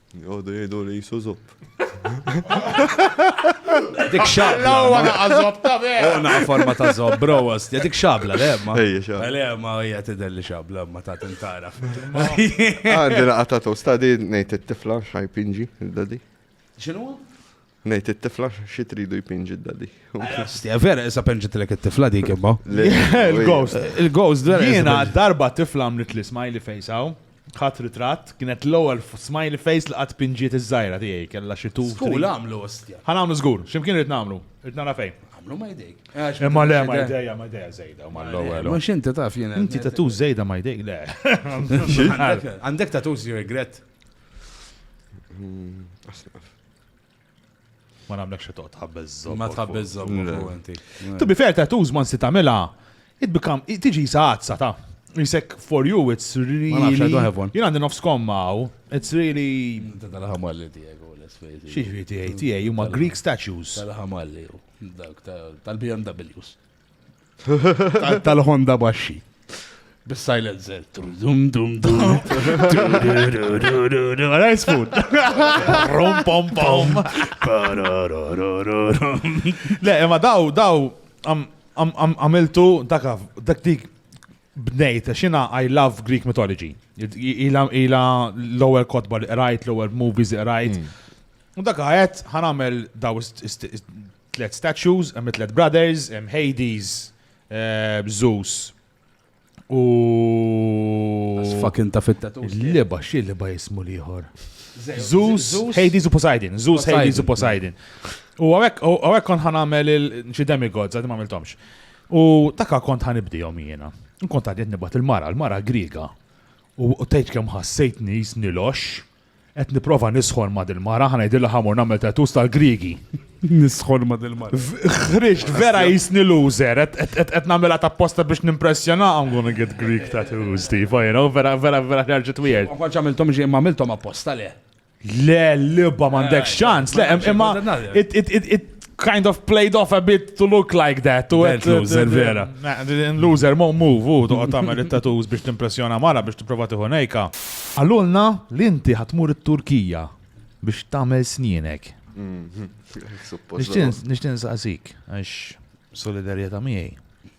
Jodu jgħidu li jisu zupp. Dik xabla. Lawa naqa zob ta' vera. Oh, naqa forma ta' zob, bro, għasti. Dik xabla, le, ma. Ej, xabla. Le, ma, hija tidher li xabla, ma ta' tintaraf. Għandi naqa ta' tosta di ngħid it-tifla xajpinġi, il-dadi. X'inhu? Ngħid it-tifla xi tridu jpinġi d-daddy. Stja vera issa penġitlek it-tifla dik imma. Il-ghost. Il-ghost vera. Jiena darba tifla għamlet li smiley face hawn. Ħadd ritratt, kienet l-ewwel smiley face li qatt pinġiet iż-żgħira tiegħi kellha xi tu. Żgur għamlu ostja. Ħa nagħmlu żgur, x'imkien irid nagħmlu, irid nara fejn. Għamlu ma jdejk. Imma le ma jdejja ma jdejja żejda ma l-ewwel. Ma x'inti taf jiena. Inti tatu żejda ma jdejk le. Għandek tatu żjur regret. Ma nagħmlek xi toqgħod tħabbel żomm. Ma tħabbel żomm inti. To be fair tattoos ma nsi tagħmilha it become tiġi saqazza ta' Jisek for you it's really Jien għandi nofs komma u it's really Dal-ħamalli Diego l-isfejti. Xi tiegħi tiegħi huma Greek statues. Dal-ħamalli tal-BMWs. tal-Honda baxxi. Bis-silencer. Dum dum dum. Rice food. Rom pom pom. Le, imma daw, daw, għamiltu dak dak dik bnejt, xina I love Greek mythology. Ila l-ewwel kotba li qrajt, l-ewwel movies li qrajt. Mm. U dak għajt ħanamel daw Tliet statues, hemm it-tliet brothers, hemm Hades, Zeus u. Fucking ta' fit-tatu. Liba, xi liba jismu liħor. Zeus, Hades u Poseidon. Zeus, Hades u Poseidon. U għawek kon ħan għamel il-xi demigods, għadim għamiltomx. U taka kont ħan ibdijom jiena. Nkont għadiet nibat il-mara, il-mara griga. U tajt kem ħassejtni jisni lox. Qed nipprova nisħon ma' dil-mara, ħa ngħidilha ħa mur nagħmel tattoos tal-Griegi. Nisħon ma' dil-mara. Ħriġt vera jisni loser, qed nagħmilha tapposta biex nimpressjona I'm gonna get Greek tattoos, tipo, you know, vera vera vera ħarġet weird. Ma kontx għamilthom ġie ma għamilthom apposta le. Le, libba m'għandek ċans, le, imma kind of played off a bit to look like that. U għed loser, vera. Loser, mo move, u toqgħod tagħmel it-tattoos biex timpressjona mara biex tipprova tieħu nejka. Għallulna li inti ħatmur it-Turkija biex tagħmel snienek. Mhm. Nixtin saqsik, għax solidarjetà miegħi.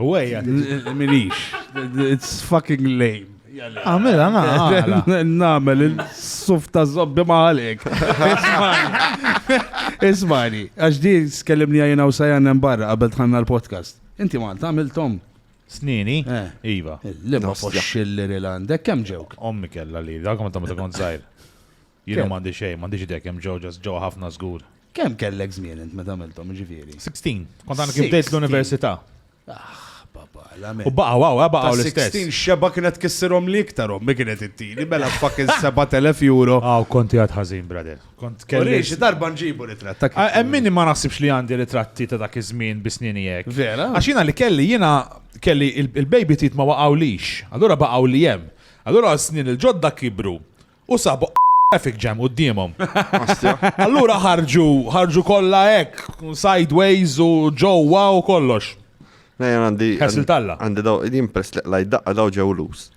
U għajja, minix. It's fucking lame. Għamil, għana. Namel, il-suf ta' zobbi maħalik. Ismani, għax di skellimni għajna u sajan barra qabel tħanna l-podcast. Inti Malta, għamil Tom. Snini? Eh. Iva. L-imma foxxilli l-għandek, kem ġewk? Ommi kella li, dak ma ta' ma ta' kont zaħir. Jiena m'għandi xejn, m'għandix idea kemm ġew, just ġew ħafna żgur. Kemm kellek żmien int meta għamilthom, jiġifieri? Sixteen. Kont għadni kif bdejt l-università. Aħ, baba, l-għamel. U baqgħu hawn, baqgħu l-istess. Ta' sixteen x'xebgħa kienet tkissirhomli iktar ommi kienet ittini, mela fucking sebat elef euro. Aw, kont qiegħed ħażin, brother. Kont kelli. Uri, xi darba nġibu ritratt ta' kif. Hemm min ma naħsibx li għandi ritratti ta' dak iż-żmien bi snieni hekk. Vera? Għax jiena li kelli, jiena kelli il-baby teeth ma waqgħulix, allura baqgħu li hemm. Allura s-snien il-ġodda kibru. u sabu traffic jam quddiemhom. Allura ħarġu, ħarġu kollha hekk, sideways u ġewwa u kollox. Nejja għandi. Ħessil talla. Għandi daw, jien pers li qlaj daqqa daw ġew lus.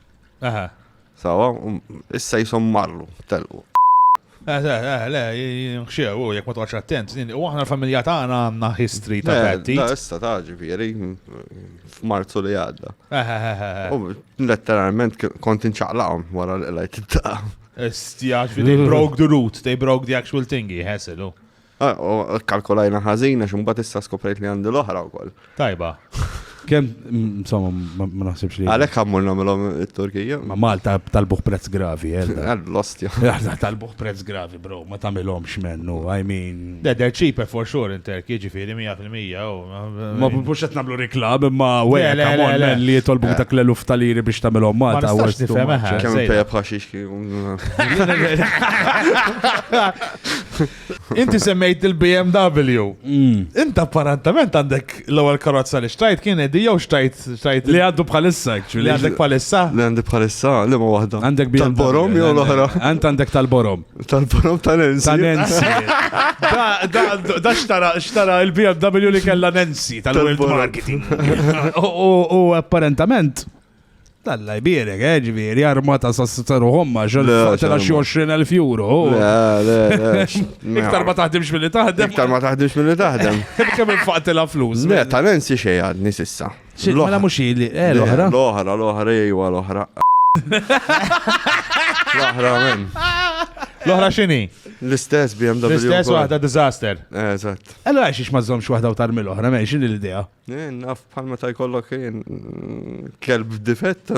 Aha. Sawa, um, issa jisom marru, telqu. Eh, eh, eh, le, xew, u jek ma twaċ attent, u aħna l-familja tagħna għandna history ta' patti. Issa ta' ġifieri, f'Marzu li għadda. U letteralment kont inċaqlaqhom wara li lajt it-ta'. Stjax, they broke the root, they broke the actual thing, jħeselu. Ah, u kalkolajna ħażina xumbat issa skoprejt li għandi l-oħra wkoll. Tajba. Kem, insomma, ma ma naħsibx li. Għalek għammur namilom il-Turkija. Ma Malta talbuħ prezz gravi, eh? Għall-lost, ja. Għadda talbuħ prezz gravi. Bro, ma tamilomx mennu, I mean... De, they're cheaper for sure in Turkey, ġifiri, 100% u... Ma bux qed nagħmlu reklam, imma wejja ta' mormen li jitolbu dak l-eluf tal-iri biex tagħmilhom Malta. Ma nistax nifhem eħe. Kemm tajjeb ħaxix Inti semmejt il-BMW. Inti apparentament għandek L-ewwel karozza li xtrajt kien di jew xtrajt xtrajt. Li għaddu bħalissa actually. Li għandek bħalissa? Li għandi bħalissa, li ma waħda. Għandek bi. Tal-borom jew l-oħra. Għand għandek tal-borom. Tal-borom tal-ensi. Tal-ensi. Da xtara xtara il-BMW li kella Nancy tal-world marketing. U apparentement. Alla jbierek, eh, ġviri, armata sa s-sitsa ruħom ma ġol, tela xie 20.000 euro. Iktar ma taħdimx mill-li taħdem. Iktar ma taħdimx mill-li taħdem. Kem infaqtela flus. Le, tal-ensi xie għadni sissa. Mela mux li, eh, l-ohra. L-ohra, l-ohra, jgħu l-ohra. L-ohra, men. L-ohra xini? L-istess BMW. L-istess wahda disaster. Eżat. Allora xiex mażomx wahda u tarmi l-ohra, men, xini l-idea? Naf bħal meta jkollok kelb difett.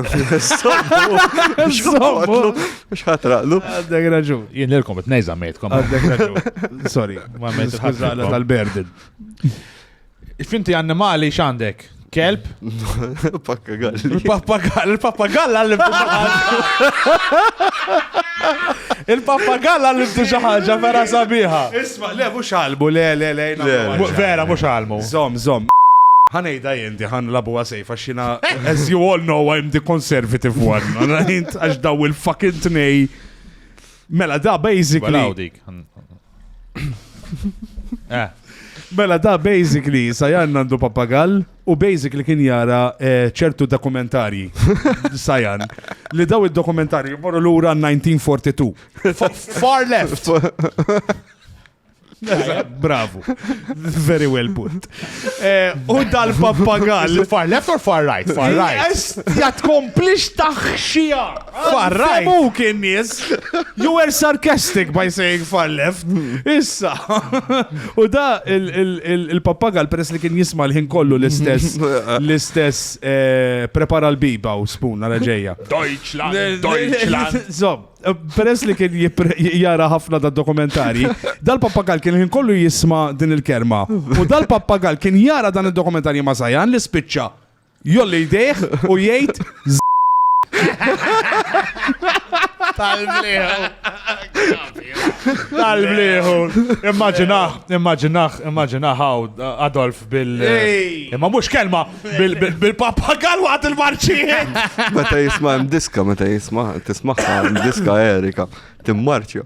Mux ħatraqlu. Għaddek raġun. Jien l-kom, t-nejza mejtkom. Għaddek raġun. Sorry, ma mejt ħazzaqla tal-berdin. Finti annimali xandek? Kelb? Pappagall. Il-pappagall, il-pappagall għallim Il-pappagall għallim xaħġa vera sabiħa. Isma, le, mux għalmu, le, le, le, jina. Vera, mux għalmu. Zom, zom. Ħanejda jinti, ħan labu għasajf, għaxina, as you all know, I'm the conservative one. Għax daw il-fucking tnej. Mela da, basically. Eh. Mela da, basically, sajan għandu papagall. U basically kien jara eh, ċertu dokumentarji, Sajan, li daw id-dokumentarji morru lura 1942. Fa- Far left! Eżatt, Bravo. Very well put. Eh, U dal-pappagall. Far left or far right? Far right. Jast, jatkomplix taħxija. Far right. Semuk in-nies. You were sarcastic by saying far left. Issa. U da il-pappagal peress li kien jisma l-ħin kollu l-istess l-istess eh, prepara l-biba u spun għal ġejja. Deutschland, Deutschland. Zom, eh, peress li kien jara ħafna da dokumentari, dal-pappagal kien ħin kollu jisma din il-kerma. U dal-pappagal kien jara dan il-dokumentari ma' Zajan li spiċċa Jolli jdejh u jgħid Tal-bliħu. Tal-bliħu. Immaġinaħ, immaġinaħ, immaġinaħ għaw Adolf bil. Imma mux kelma bil-papagal għat il-marċijiet. Meta jisma' diska, meta jisma' tismaħħa diska Erika, timmarċja.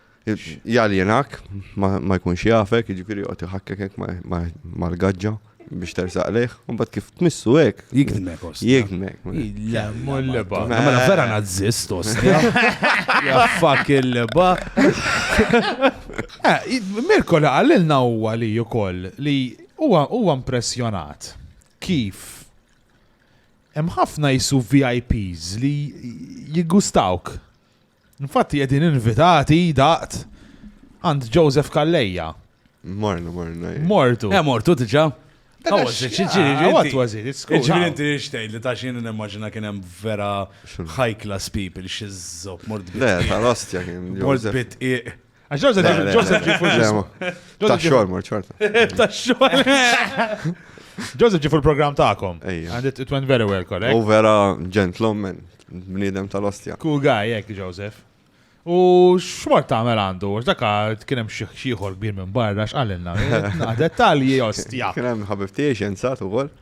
Jaljenak, ma jkunx jafek, jiġifieri joqgħod iħakkek hekk mal-gaġġa biex tersaq lejh, u mbagħad kif tmissu hekk. Jikdmek, ost. Jikdmek. Le, mur liba. Ma mela vera nazzist, ost. Jaffak il-liba. Eh, Mirko li għallilna huwa li ukoll li huwa impressjonat kif hemm ħafna jisu VIPs li jigustawk. Infatti qegħdin invitati daqt għand Joseph Kalleja. Morna, morna. Eh. Mortu. Eh, mortu diġa. What was it? Ġviri inti xtejt li ta' xin n-immagina kien hemm vera high class people xizzob mort bit. Le, tal-ostja kien. Mort bit Għax Joseph Le, le, Joseph ġi fuq Le, ma- Joseph Ta' ġi- xogħol mor ċorta. Ta' xogħol. Joseph ġi fuq il-programm tagħkom. Ejja. And it, it went very well, correct? U vera ġentlommen, bniedem tal-ostja. Cool guy, jek, Joseph. U xmar tagħmel għandu, għax daka kien hemm xi xieħor kbir minn barra x'qalilna. Dettalji ostja. Kien hemm ħabib tiegħi xjenzat ukoll.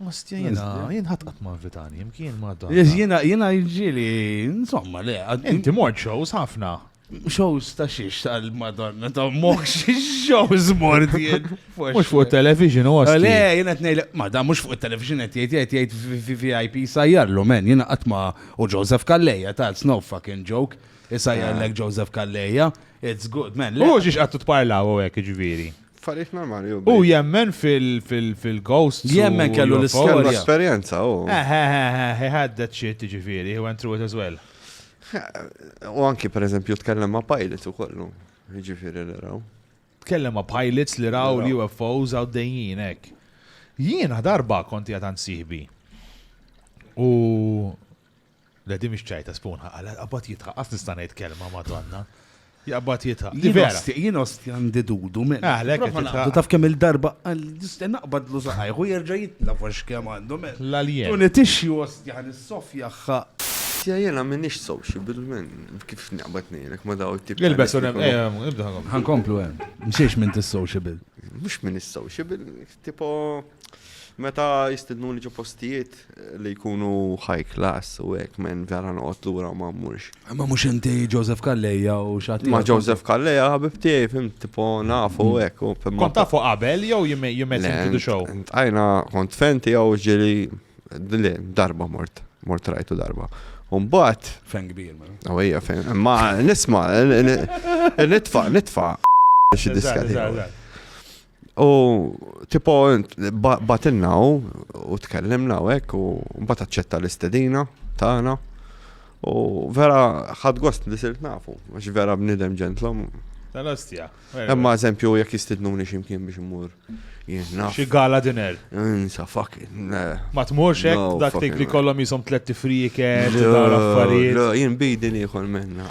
Ostia, jena, jien ħat qatt ma invitani, jimkien ma dan. Jena, jena ġili, insomma, le. Inti mort shows ħafna. Shows ta' xiex tal-Madonna, ta' moħ xiex shows mort jien. Mux fuq television, u għasti. Le, jena t-nejl, ma da, mux fuq television, jt jt jt jt VIP sajjarlu, men, jena qatt ma, u Joseph Kalleja, ta' it's no fucking joke, sajjarlek ah. Joseph Kalleja, it's good, men. U xiex għattu t-parlaw u għek, ġviri. Affarijiet normali hu. Hu jemmen fil-ghosts. Jemmen kellu l-istorja. Kellu esperjenza hu. Eħ, eħ, eħ, eħ, he had that shit, jiġifieri, he went through it as well. U anki pereżempju tkellem ma' pilots u kollu, jiġifieri li raw. Tkellem ma' pilots li raw l-UFOs għaddejjin hekk. Jiena darba konti għad għand sieħbi. U Le di mhix ċajta spunħa għala qabad jidħaq qas nista' ngħid kelma madonna. Jaqbad jidħaq. Di vera. Jien osti għandi dudu minn. Ah, lek qed titħaq. Taf kemm il-darba naqbad lu saqajħu jerġa' jitnaf għax kemm għandu minn. L-alien. Tuni tixxi osti għan is-sofja ħa. Tja jena minix sociable minn kif naqbad nejlek ma daw tip. Il-besu nem, ibda ħankomplu għem. Mxiex minn tis-sociable. Mux minn is-sociable. Tipo meta jistidnuni ġo postijiet li jkunu high class u hekk men vera noqgħod lura ma mmurx. Ma mhux inti Joseph Kalleja u xatt. Ma Joseph Kalleja ħabib tiegħi fim tipo nafu mm. hekk u fim. Kont tafu qabel jew jimmet into show? Għajna kont fenti jew ġili dile darba mort, mort rajtu darba. Umbat. Fen kbir, ma. Mela. Għawija, fen. Ma nisma, nitfa, nitfa. Xi diskati. U tipo batilna u u tkellimna u hekk u mbagħad aċċetta l-istedina tagħna. U vera ħad gost li sirt nafu, għax vera bnidem ġentlom. Tal-ostja. Imma eżempju jekk jistidnuni x'imkien biex imur jiena. Xi gala dinner. Insa fucking. Ma tmurx hekk dak li kollhom jisom tliet tifrijek, affarijiet. Jien bidi nieħol minna.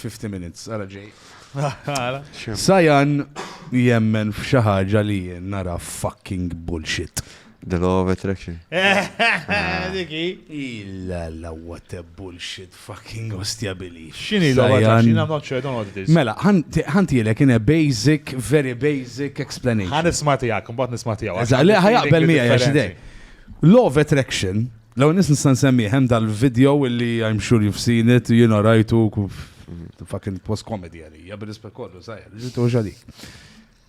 50 minutes, għara ġej. Sajan jemmen f'xi ħaġa li jien nara fucking bullshit. The law of attraction. Diki. Illa la what a bullshit fucking ostja bili. Xini law of attraction? I'm not sure, I don't know what it is. Mela, ħanti l in a basic, very basic explanation. Għan isma tijak, mbat nisma tijak. Eżalli, ħajaqbel mija jaxidej. Law of attraction L-ewwel nies nista' nsemmi hemm dal-video illi I'm sure you've seen it, jiena rajtu fucking it was comedy għalija bil-rispett kollu sajja, ġitu xadik.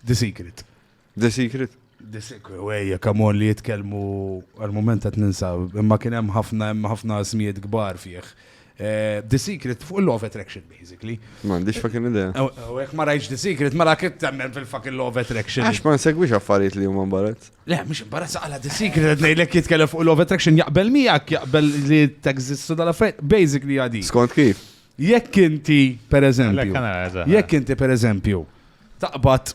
The Secret. The Secret? The Secret, wejja, kamon li jitkellmu għal-moment qed ninsa, imma kien hemm ħafna hemm ħafna smijiet kbar fih. Eh, the Secret fuq il-Law of Attraction, basically. Ma għandix fucking idea. U jek ma rajx The Secret, ma mela la kittemmen fil-fucking Law of Attraction. Għax ma nsegwix affarijiet li huma mbarazz. Le, mux imbarazza għala The Secret, għed nejlek jitkellem fuq Love Attraction, jaqbel miegħek, jaqbel li teżistu dal affarijiet basically għadi. Skont kif? Jekk inti, per eżempju, jekk inti, per eżempju, taqbad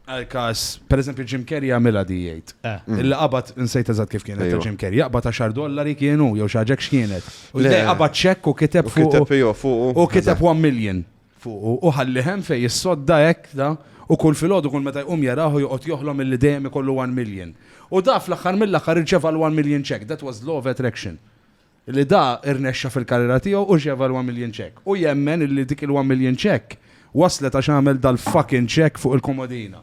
għal-kas, per eżempju, Jim Carrey għamila di jgħid. Eh. Illa qabad nsejt eżatt kif kienet Jim Carrey, jaqbad 10 dollari kienu, jew xaġek x'kienet. U jgħid qabad ċekk u kiteb fuq. U kiteb 1 million. fuqu u ħalli hemm fejn jissodda hekk da, u kull filgħodu kull meta jqum jarah u joqgħod joħlom milli dejjem ikollu one million. U da fl-aħħar mill-aħħar irċeva l-one million check, that was law of attraction. Li da irnexxa fil-karriera tiegħu u rċeva l-one million check. U jemmen illi dik il-one million check waslet għax għamel dal-fucking check fuq il-komodina.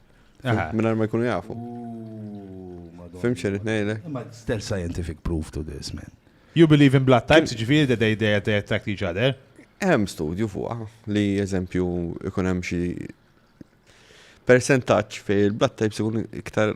Minar ma jkunu jafu. Fim xer itnejle? Ma there's scientific proof to this, man. You believe in blood types, ġifiri that they, they, they attract each other? Hemm studju fuqa li eżempju ikun hemm xi percentaġġ fej il-blood types ikun iktar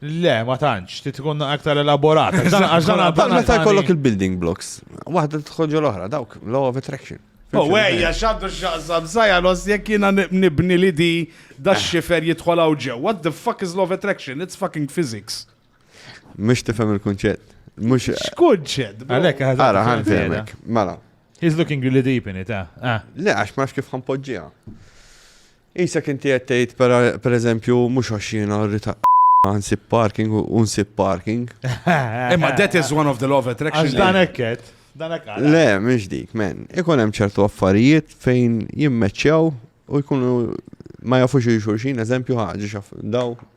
Le, ma tantx, ti tkun aktar elaborat. Għax dan għadda. Meta jkollok il-building blocks, waħda tħoġġu l-oħra, dawk, law of attraction. U għajja, xaddu xaqsam, sajja los, jek jina nibni li di da xifer jitħolaw ġew. What the fuck is law of attraction? It's fucking physics. Mux tifem il-kunċett. Mux. Xkunċett. Għalek, għara, għara, għara, għara, He's looking really deep in it, ah. ah. Le, għax ma kif ħanpoġġija. Qisek inti qed tgħid pereżempju mhux għax jiena rrid ma nsib parking u nsib parking. Imma that is one of the law of attraction. Għax dan hekk qed. Le, mhux dik, men. Ikun hemm ċertu affarijiet fejn jimmeċċew u jkunu ma jafux xulxin, eżempju ħaġa xaf daw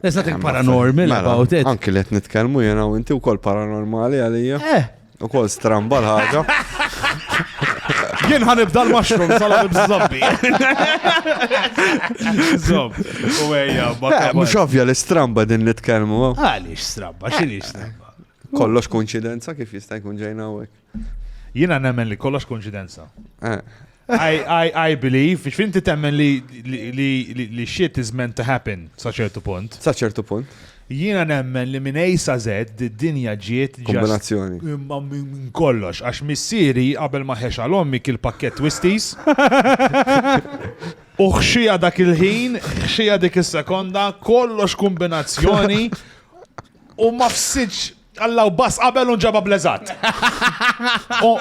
There's nothing Eh, ma- paranormal mela, about it. Anki li qed nitkellmu jiena u inti wkoll paranormali għalija. Eh, Ukoll stramba l-ħaġa. Jien ħanibda l-mushroom sala b'żobbi. Zob. U ejja, ma Eh, kabal. Mhux ovvja li stramba din nitkellmu. eh. Għaliex strabba, x'inhi strabba? Kollox konċidenza kif jista' jkun ġejna hawnhekk. Jiena nemmen li kollox konċidenza. I believe, biex finti temmen li shit is meant to happen sa ċertu punt. Sa ċertu punt. Jiena nemmen li minn ejsa sa zed dinja ġiet kombinazzjoni. Imma minn kollox, għax missieri qabel ma ħex għal ommi kil pakket twisties. U xija dak il-ħin, xija dik is-sekonda, kollox kombinazzjoni u ma fsidx Alla u bass qabel un ġaba bleżat.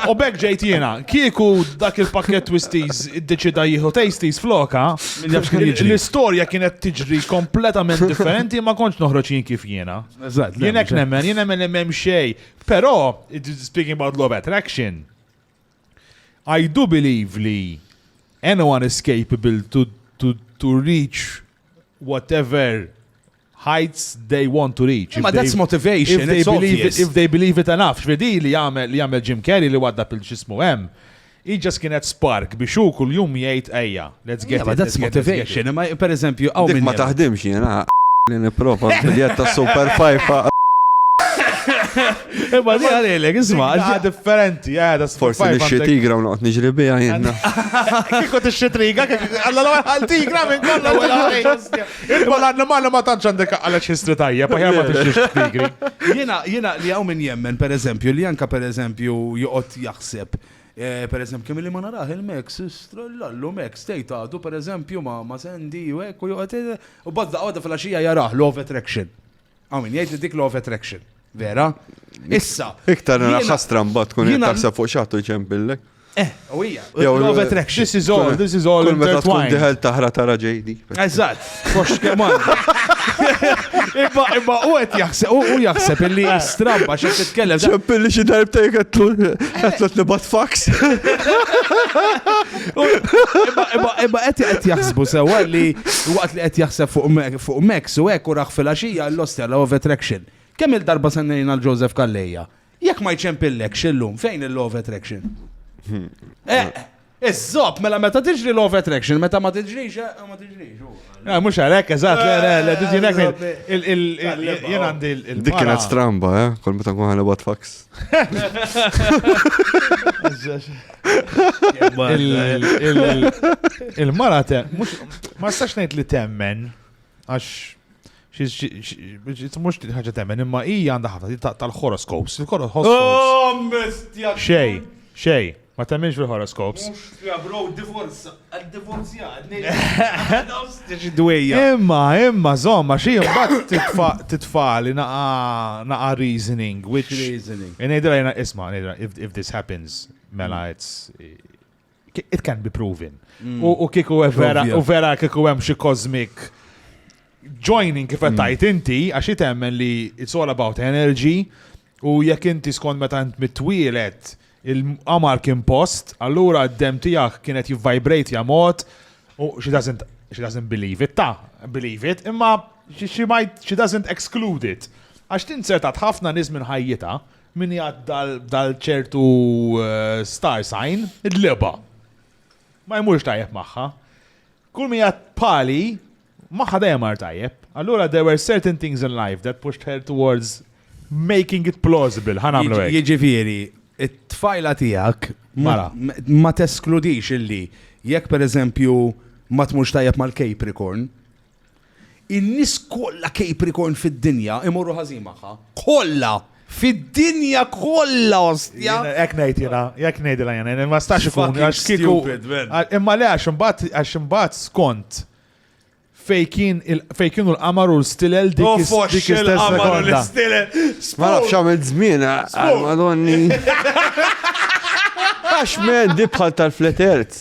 U bekk ġejt jiena, kieku dak il-pakket twisties id-deċida jieħu tasties floka, l-istorja kienet tiġri kompletament differenti ma konċ noħroġ jien kif jiena. Jien hekk nemmen, jien nemmen li m'hemm xej. Però, speaking about law of attraction, I do believe li anyone is capable to to to reach whatever heights they want to reach. Ma that's motivation, if they, believe it, if they believe it enough, xvedi li jagħmel li jagħmel Jim Carrey li waddab il-ġismu hemm. Hi ġas kienet spark biex hu kuljum jgħid ejja. Let's get yeah, it, that's motivation. Ma per eżempju, għaw minn. Ma taħdimx jena, li niprofa l-biljett ta' Super Five. Imma di għalilek, isma. Għad differenti, għada eh, Forse nixxie tigra u noqt nġri bija jenna. Kiko t-xie triga, għalla l għal tigra minn kolla l-għal. Irba l-annimal ma tanċ għandek għalla ċistri tajja, paħja ma t-xie tigri. Jena, jena li għaw minn jemmen, per eżempju, li anka per eżempju, joqot jaħseb Eh, per eżempju, kemm li ma naraħ il-Max, strollallu Max, tejt għadu, per eżempju, ma ma sendi, u ekku, juqat, u badda għada fil-axija jaraħ, law of attraction. Għamin, jgħid li dik law of attraction. Vera? Issa. Iktar nara ħastra mbagħad tkun qed taħseb fuq xaħtu ġempillek. Eh, u hija. Law of attraction. This is all, this is all. Meta tkun diħel taħra tara ġejdi. Eżatt. Kox kemm Imma imma u qed jaħseb u jaħseb illi eh. stramba xi titkellem. Ċempilli xi darbta jgħetlu qed nibat fax. Imma qed qed jaħsbu sewwa li waqt li qed jaħseb fuq Max u hekk u raħ fil-għaxija l-ostja l-Love Attraction. Kemm il-darba sennejna l-Joseph Kalleja? Jekk ma jċempillekx illum, fejn il-law of attraction? Eh, Iżżob, mela meta tiġri law of attraction, meta ma tiġrix, eh, ma tiġrix. Eh, Mux għalek, eżat, le, le, le, did you next? Il- il- il- Jien għandi il- il- Dik kienet stramba, eh? Kol meta nkun ħana bat fax. Il-mara te, mux, ma stax nejt li temmen, għax Mux din ħagġa temmen, imma hija għandha ħafna tal-horoskops. Il-horoskops. Xej, xej, ma temmenx fil-horoskops. Imma, imma, zomma, xie mbagħad titfa' li naqa reasoning, which reasoning. Ngħidilha jena isma', if this happens, mela it's It can be proven. Mm. U kiku vera, u vera kiku hemm xi cosmic joining kif mm. tajt inti, għax jitemmen li it's all about energy, u jekk inti skont meta int mitwielet il-qamar kien post, allura d-dem tiegħek kienet jivvibrate ja mod, u she doesn't, she doesn't believe it, ta' believe it, imma she, she might, she doesn't exclude it. Għax tinsertat ħafna nies minn ħajjita, Min jgħadd dal ċertu star sign, id-dleba. Ma jmurx tajjeb magħha. Kull min jgħadd pali, magħha dejjem mar tajjeb. Allura there were certain things in life that pushed her towards making it plausible, ħa nagħmlu hekk. Jiġifieri, it-tfajla tiegħek Mara. ma teskludix illi jekk pereżempju ma tmurx tajjeb mal-capricorn, In-nies kollha kejpri kon fid-dinja imorru ħażin magħha. Kollha! Fid-dinja kollha ostja! Jekk ngħid jiena, jekk ngħidilha jiena, ma stax ikun għax kieku. Imma le għax imbagħad għax imbagħad skont fej kien fej kienu l-qamar u l-stilel dik oh, dik istess sekonda. Ma nafx għamil żmien għal madonni. Għax men dibħal tal-fletert.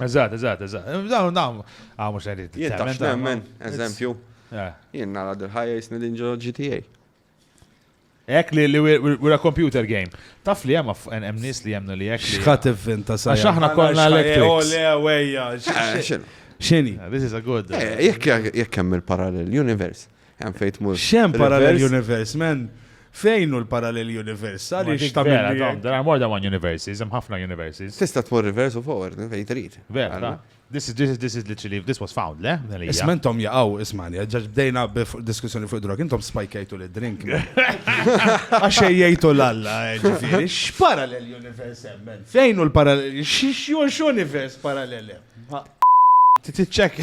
Eżatt, eżatt, eżatt. Dawn, dawn, għaw mux għedin. Jittax nemmen, eżempju. Jien nara dil-ħajja jisni din ġo GTA. Ek li li we're a computer game. Taf li hemm hemm nies li jemnu li hekk. X'ħadd ivvinta sa. Għax aħna kollha electric. Oh, le wejja. Eh, X'inhi? Eh, this is a good. Eh, jekk jekk hemm il-parallel universe. Hemm fejn tmur. Xem parallel universe, man? Fejn hu l-parallel universe? Għaliex ta' vera, dom, there are more than one universes, hemm ħafna universes. Tista' tmur reverse u forward, fejn trid. Vera, da. This is, this is, this is literally, this was found, le? Isma intom jaqaw, ismani, ġaġ bdejna b'diskussjoni fuq drog, intom spajkajtu li drink. Għaxej jgħajtu l-alla, ġifiri, x-parallel universe emmen? Fejn u l-parallel, x-universe parallel emmen? Titċek.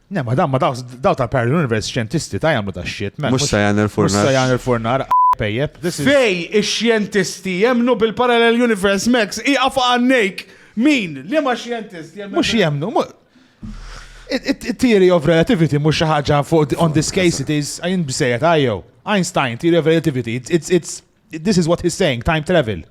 Ne, ma damma daw ta' parallel universe xjentisti ta' jamlu ta' shit, man. Mux sajan il-furnar. Mux sajan il-furnar, pejjeb. Fej ix-xjentisti jemnu bil-parallel universe, Max, iqaf għannejk. Min? Li ma xjentist jemnu? Mux jemnu, Theory of relativity mux xaħġa fuq on this case it is, għajn bsejet, għajjow. Einstein, theory of relativity, it's, it's, This is what he's saying, time travel.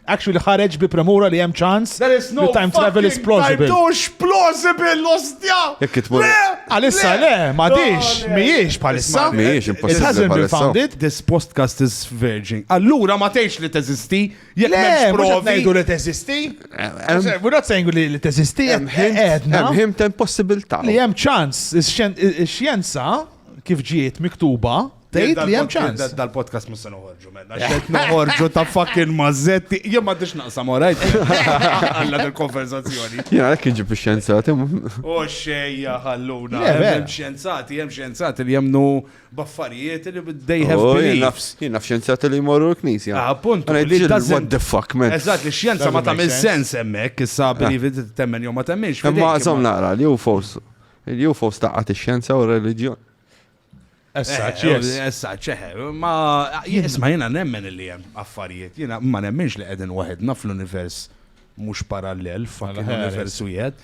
Actually ħareġ bi premura li hemm ċans li time travel is plausible. Mhux plausible l-ostja! Għalissa le, ma dix, mhijiex bħalissa. Mhijiex impossibbli. It hasn't been founded. This podcast is virgin. Allura ma tgħidx li teżisti, jekk m'hemmx provi. Ngħidu li teżisti. We're not saying li teżisti, għedna. Hemm him ta' impossibilità. Li hemm ċans, ix-xjenza kif ġiet miktuba Tgħid li hemm ċans. Dal-podcast mhux se noħorġu mela. Xed noħorġu ta' fucking mażetti. Jien ma tix naqsam orajt. Alla dil-konversazzjoni. Jien għalhekk inġib ix-xjenzati. O xejja ħalluna. Hemm xjenzati, hemm xjenzati li jemnu baffarijiet li they have oh, belief. Jien naf xjenzati li jmorru l-knisja. Ah, appunt. What the fuck, man. Eżatt, li xjenza ma tagħmel sens hemmhekk, issa ah. believe temmen jew ma temminx. Imma żomm naqra, li hu fos. Li hu fos taqgħat ix-xjenza u r-reliġjon. Essaċ, yes. Essaċ, eħe. Ma, jisma jena nemmen li jem affarijiet, jena ma nemmenx li għedin waħedna fl-univers mux parallel, fucking univers u jed.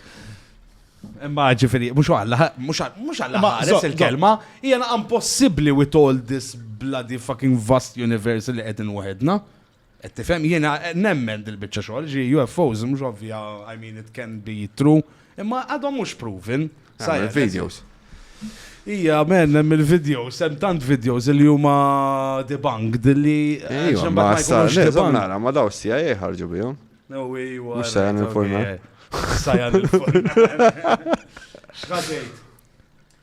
Imma ġifiri, mux għalla, mux għalla ħares il-kelma, jena impossibli with all this bloody fucking vast universe li għedin waħedna. Qed tifhem? Jiena nemmen dil-biċċa xogħol, ġi UFOs mhux ovvja, I mean it can be true, imma għadhom mhux proven. Sajja videos. Ija, men, hemm il-videos, hemm tant videos li huma debunked li. Eh, Ija, ma sarx debunked. Nara, ma daw sija jħarġu eh, bihom. No, ija. Mux sajan il-forna. Sajan il-forna. Xħadejt.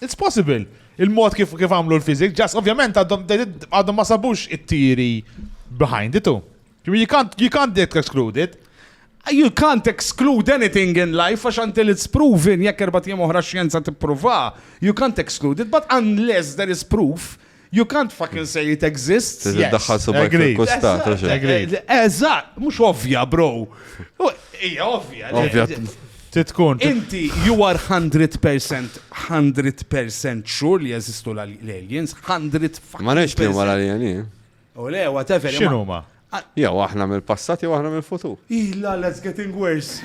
It's possible. Il-mod kif kif għamlu l-fizik, ġas ovvjament għadhom għadhom ma sabux it-tiri behind it too. You can't, you can't get excluded. You can't exclude anything in life għax until it's proven jekk erbat jiem oħra xjenza tipprova. You can't exclude it, but unless there is proof You can't fucking say it exists. Tiżi daħħal subaj fil-kustat, għax. Eżatt, mhux ovvja, bro. Hija ovvja. Ovvja. Titkun. Inti, you are 100%, 100% sure li jeżistu l-aliens, 100 fucking. Ma nix li huma l-alieni. U le, whatever. X'inhuma? Jew aħna mill-passat jew aħna mill-futur. Ih la la it's getting worse.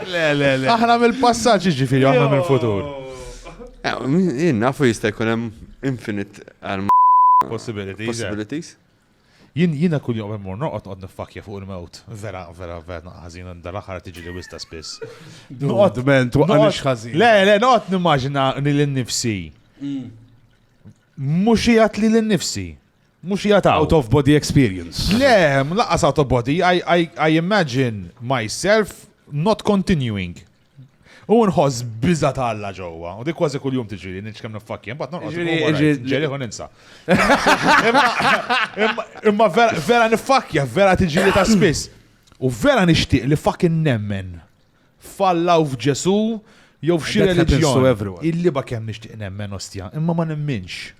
Le, le, le. Aħna mill-passat ġiġifieri aħna mill-futur. Eh, Jien nafu jista' jkun hemm infinite għal Possibilities. eh. possibilities. Jien, jiena kuljum qabel mmur norqod noqgħod niffakkja fuq il-mewt. Vera, vera, vera naqgħa ħażin għandi dal-aħħar qed tiġili wis ta' spiss. Noqgħod Men, twaqqanix ħażin. Le, le, noqgħod nimmaġina li lil nifsi. Mm. Mhux qiegħed li lil nifsi. Mhux qiegħed hawn. Out of body experience. Le, mlaqqas out of body, I, I, I imagine myself not continuing. U nħoss biża ta' Alla ġewwa, u dik kważi kuljum tiġi li nitx kemm niffakkja, mbagħad noqgħod ġeri u ninsa. Imma vera niffakkja, vera tiġi li ta' spiss. U vera nixtieq li fucking nemmen falla u f'Ġesu jew f'xi reliġjon. Illi ba kemm nixtieq nemmen ostja, imma ma nemminx.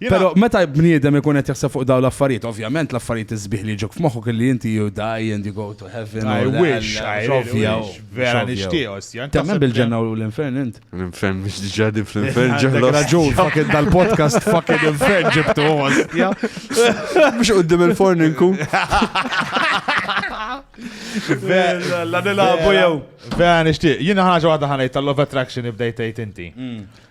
Però meta bniedem ikun qed jaħseb fuq dawn l-affarijiet, ovvjament l-affarijiet isbieħ li jiġuk f'moħħok illi inti you die and you go to heaven. I wish, I wish, vera nixtieq, ostja. Temmen bil-ġenna u l-infern int? L-infern mhux diġà din fl-infern ġenna. Raġun, fucking dal-podcast fucking infern ġibtu, ostja. Mhux qudiem il-forn inkun. La nilagħbu jew. Vera nixtieq. Jiena ħaġa waħda ħanejt tal-love attraction ibdejt tgħid inti. Mm.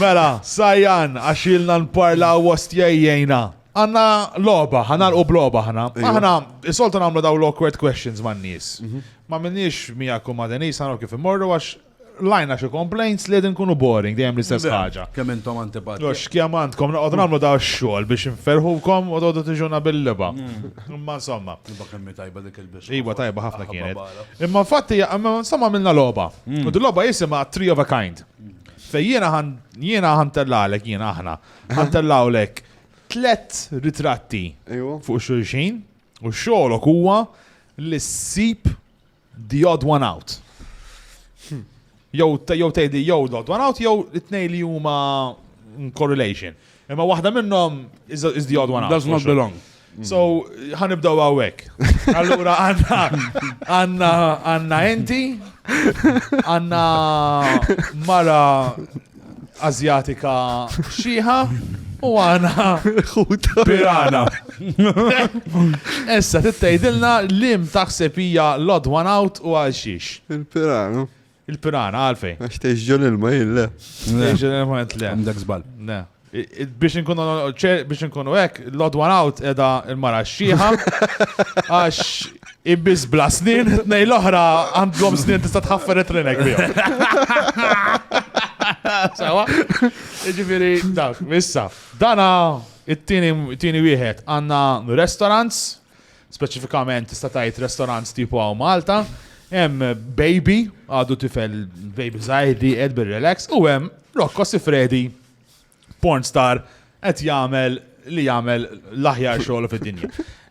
Mela, Sayan, għax ilna nparlaw ostja ejjejna. Għandna logħba, ħa nagħlqu b'logħba aħna. Aħna soltu nagħmlu dawn l-awkward questions man-nies. Mhm. Ma minniex miegħek u ma' Denise naraw kif immorru għax lajna xi complaints li qegħdin kunu boring dejjem l-istess ħaġa. Kemm intom antipati. Għax kemm għandkom noqgħod nagħmlu daw x-xogħol biex inferħukom u toqgħodu tiġuna bil-liba. Mm. Imma insomma. Iba kemm tajba dik il-biss. Iba tajba ħafna kienet. Imma fatti insomma minna logħba. Mm. U dil-logħba jisimha Three of a Kind. Mm. Fej jiena ħan jiena ħantellaqlek jiena aħna. Ħantellaqlek tlet ritratti Ejwa. fuq xulxin u xogħolok huwa li ssib the odd one out. Jew te- jew tgħidi jew the odd one out jew it-tnej li huma in correlation. Imma waħda minnhom is the odd one out. Does not belong. So, ħanibdaw għawek. Allura għanna, għanna, għanna enti, għanna mara azjatika xieħa, u għana pirana. Essa, t-tajdilna lim taħseb hija l-odd one out u għal xiex. Il-pirana. Il-pirana, għalfej. Għax teħx ġol ilma jien le. Teħx ġol ilma jint le. Għamdak zbal. Le. Biex nkunu biex nkunu hekk, l-odd one out edha il-mara xieħa. Għax ibbiż bla snin, nej l-oħra għandhom snin tista' tħaffer it-trinek bihom. Sawa? Ġifieri dak, issa. Dana it-tieni wieħed għandna restaurants Speċifikament tista' tgħid restaurants tipu hawn Malta, hemm baby, għadu tifel baby żgħir li qed bir-relax, u hemm Rocco Sifredi, porn star, qed jagħmel li jagħmel l-aħjar xogħol fid-dinja.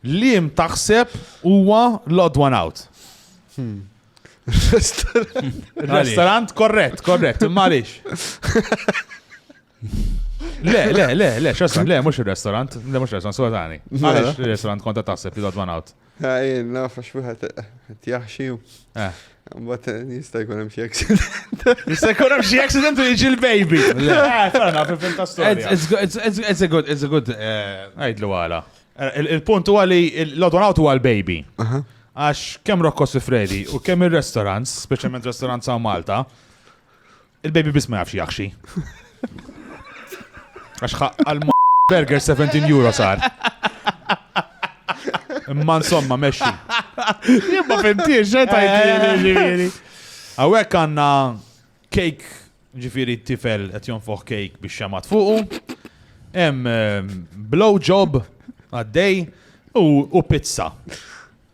Lim taħseb huwa l-odd one out. Hmm. Restaurant korrett, korrett, imma għaliex. Le, le, le, le, xasem, le, mux il-restaurant, le, mux il-restaurant, so tani. Għalix il-restaurant konta taħseb li dotman għawt. Għajn, naf, għax wieħed tjaħxi. Eh. Mbatt eh, jista' jkun hemm xi accident. Jista' jkun hemm xi accident u jiġi l-baby. Le, ferna, fil-film ta' storja. It's a good, it's a good. Eh, Għajdlu għala. Il-punt huwa li l-odwan għawt huwa l-baby. Għax kemm Rocco Sifredi u kemm il-restaurants, specialment restaurants għaw Malta, Il-baby biss ma jafx jaħxi. Għax għal burger 17 euro sar. Imma insomma, meċi. Jibba fimtiex, xe tajtini. Għawek għanna kejk, ġifiri tifel għet jonfoħ kejk biex xamat fuqu. Em, ehm, blow job għaddej u pizza.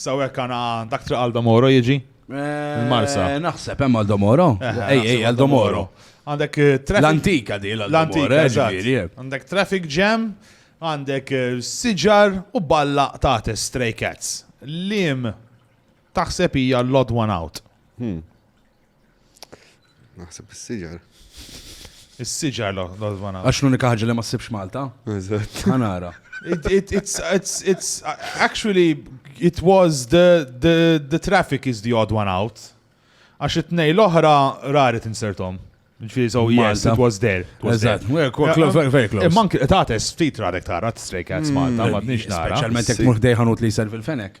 Saw hekk għana dak triq għal Domoro jiġi? Eh, Il-Marsa. Naħseb hemm għal Domoro. Eh, ej, ej, għal Domoro. Għandek eh, traffic. L-antika di l-antika. Għandek traffic jam, għandek siġar u balla ta' stray cats. Lim taħseb hija l-odd one out. Hmm. Naħseb is-siġar. Is-siġar l l-odvana. Għax l-unika ħagġa li ma ssibx Malta. Eżatt. Ħanara. It's actually it was the the the traffic is the odd one out. Għax it-tnej l-oħra rari tinsertom. Ġifieri so yes, it was there. Eżatt, very close. Imma anke tates ftit radek tara stray cats mm. Malta, ma tnix nara. Speċjalment jekk mhux dejħanut li jservi l-fenek.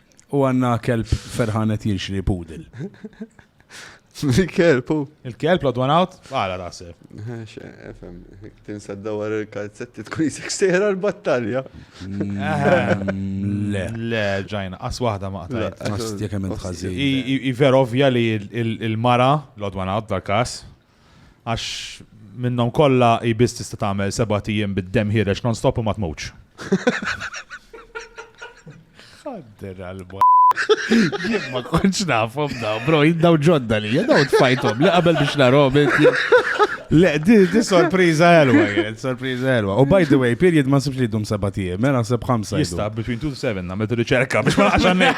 U għanna kelb ferħan qed jinxri pudel. Il-kelb, u. Il-kelb, l-odd one out, għala tasib. Efem, tinsa d-dawar il-kalzetti tkun jisek sejra l-battalja. Le. Le, ġajna, as wahda ma qtajt. Għas tjekem il-ħazin. I vera ovvja li il-mara, l-odd one out, dal-kas, Għax minnhom kollha hi biss tista' tagħmel seba' tijiem bid-demm ħiereġ non-stop u ma tmutx. Ħadder għal Jien ma kontx nafhom da, bro, jindaw ġodda li, jindaw tfajtom li qabel biex narhom. Le, di, di sorpriza elwa, sorpriza elwa. U by the way, period ma sibx li dum seba tijem, mela seb ħamsa. Jista, between 2 to 7, namet riċerka biex ma għaxannek.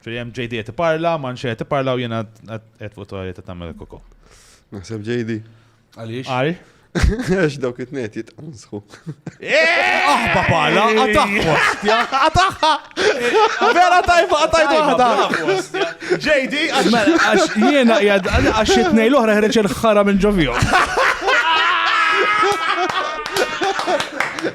Firjem JD qed iparla, Manxi qed iparla u jiena qed fuq torri ta' tagħmel koko. Naħseb JD. Għaliex? Għal? Għax dawk it-tnejn jitqansħu. Aħba pala, għataħħu. Għataħħa! Vera tajba, għatajba għada. JD, mela, għax jiena jgħad, għax it-tnejn l-oħra ħreċ il-ħara minn ġovijom.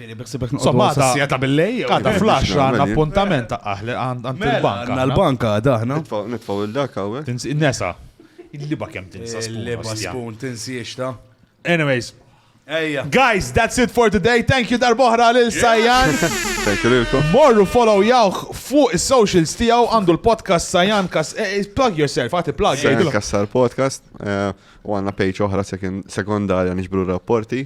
Insomma, għada ta' billej. Għada flash għanna appuntament ta' aħli għand mela, il-banka. Għanna l-banka għada ħna. Nitfaw il-dak għawek. Nesa. Il-liba kem tinsa spun. Il-liba spun tinsiex ta' Anyways. Ejja. Guys, that's it for today. Thank you darbohra lil Sajan. Thank you lilkom. Morru follow jawh fuq is-socials tiegħu għandu l-podcast Sajan Kas. Eh, eh, plug yourself, għati plug. Sajan Kassar podcast. Eh, u għanna page oħra sekondarja nixbru rapporti.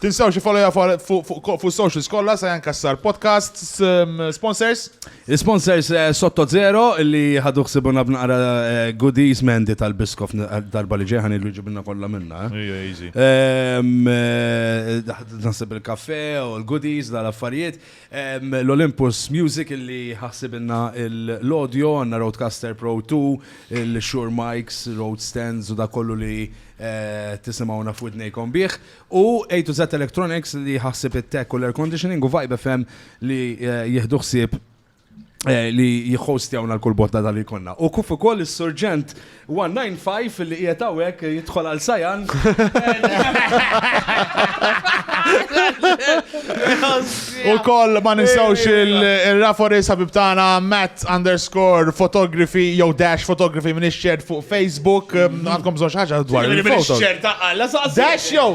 Tinsewx ifollowja fuq is-socials kollha sa Jan Cassar Podcast. Sponsors? Sponsors eh, Sotto Zero li ħadu ħsibuna b'naqra eh, goodies mendi tal-biskof eh, darba li ġejħan il ġibna kollha minna. Nasib il-kafe u l-goodies dal-affarijiet. L-Olympus Music li ħassibna l-audio għanna Roadcaster Pro 2, il-Shure Mics, Road Stands u da kollu li Eh, tisimawna f'widnejkom bih u A to Z Electronics li ħa ħsieb it-tech u l-air conditioning u Vibe FM li jieħdu ħsieb li jihostjawna l-kull botta tal-li konna. U kuf ukoll is-Surġent 195 li qiegħed hawnhekk jidħol għal Sajan. U koll ma ninsawx il-Rafores ħabib tagħna Matt underscore photography jew dash photography minn ix-xert fuq Facebook. Mm-hmm. Għandkom bżonn xi ħaġa dwar il-foto. Dash jew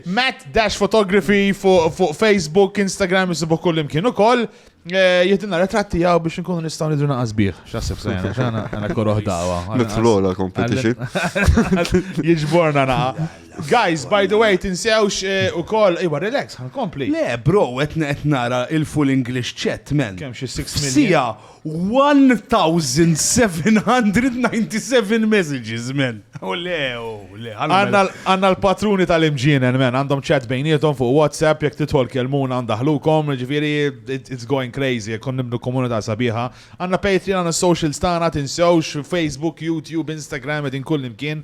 Matt Dash Photography fuq Facebook, Instagram, jisibu kull imkien ukoll. Eh, Jihdinna retratti għaw biex nkunu nistaw nidru naqas bieħ. Xasib sajna, xana għana korroħ dawa. Nitlola competition. Jġborna naqa. Guys, by the way, tinsewx eh, ukoll, iwa relax, ħan kompli. Le, bro, qed qed nara il-full English chat, man. Kemm xi 6 million? Sija 1797 messages, man. U le, u le. għallu Għanna mela. għanna l-patruni tal-imġienen, men, għandhom chat bejnietom fuq WhatsApp, jek titħol kelmun għandaħlukom, ġifiri, it- it's going crazy, jek kon nibnu komunità sabiħa. Għanna Patreon, għanna socials tana, tinsewx, Facebook, YouTube, Instagram, edin kull imkien,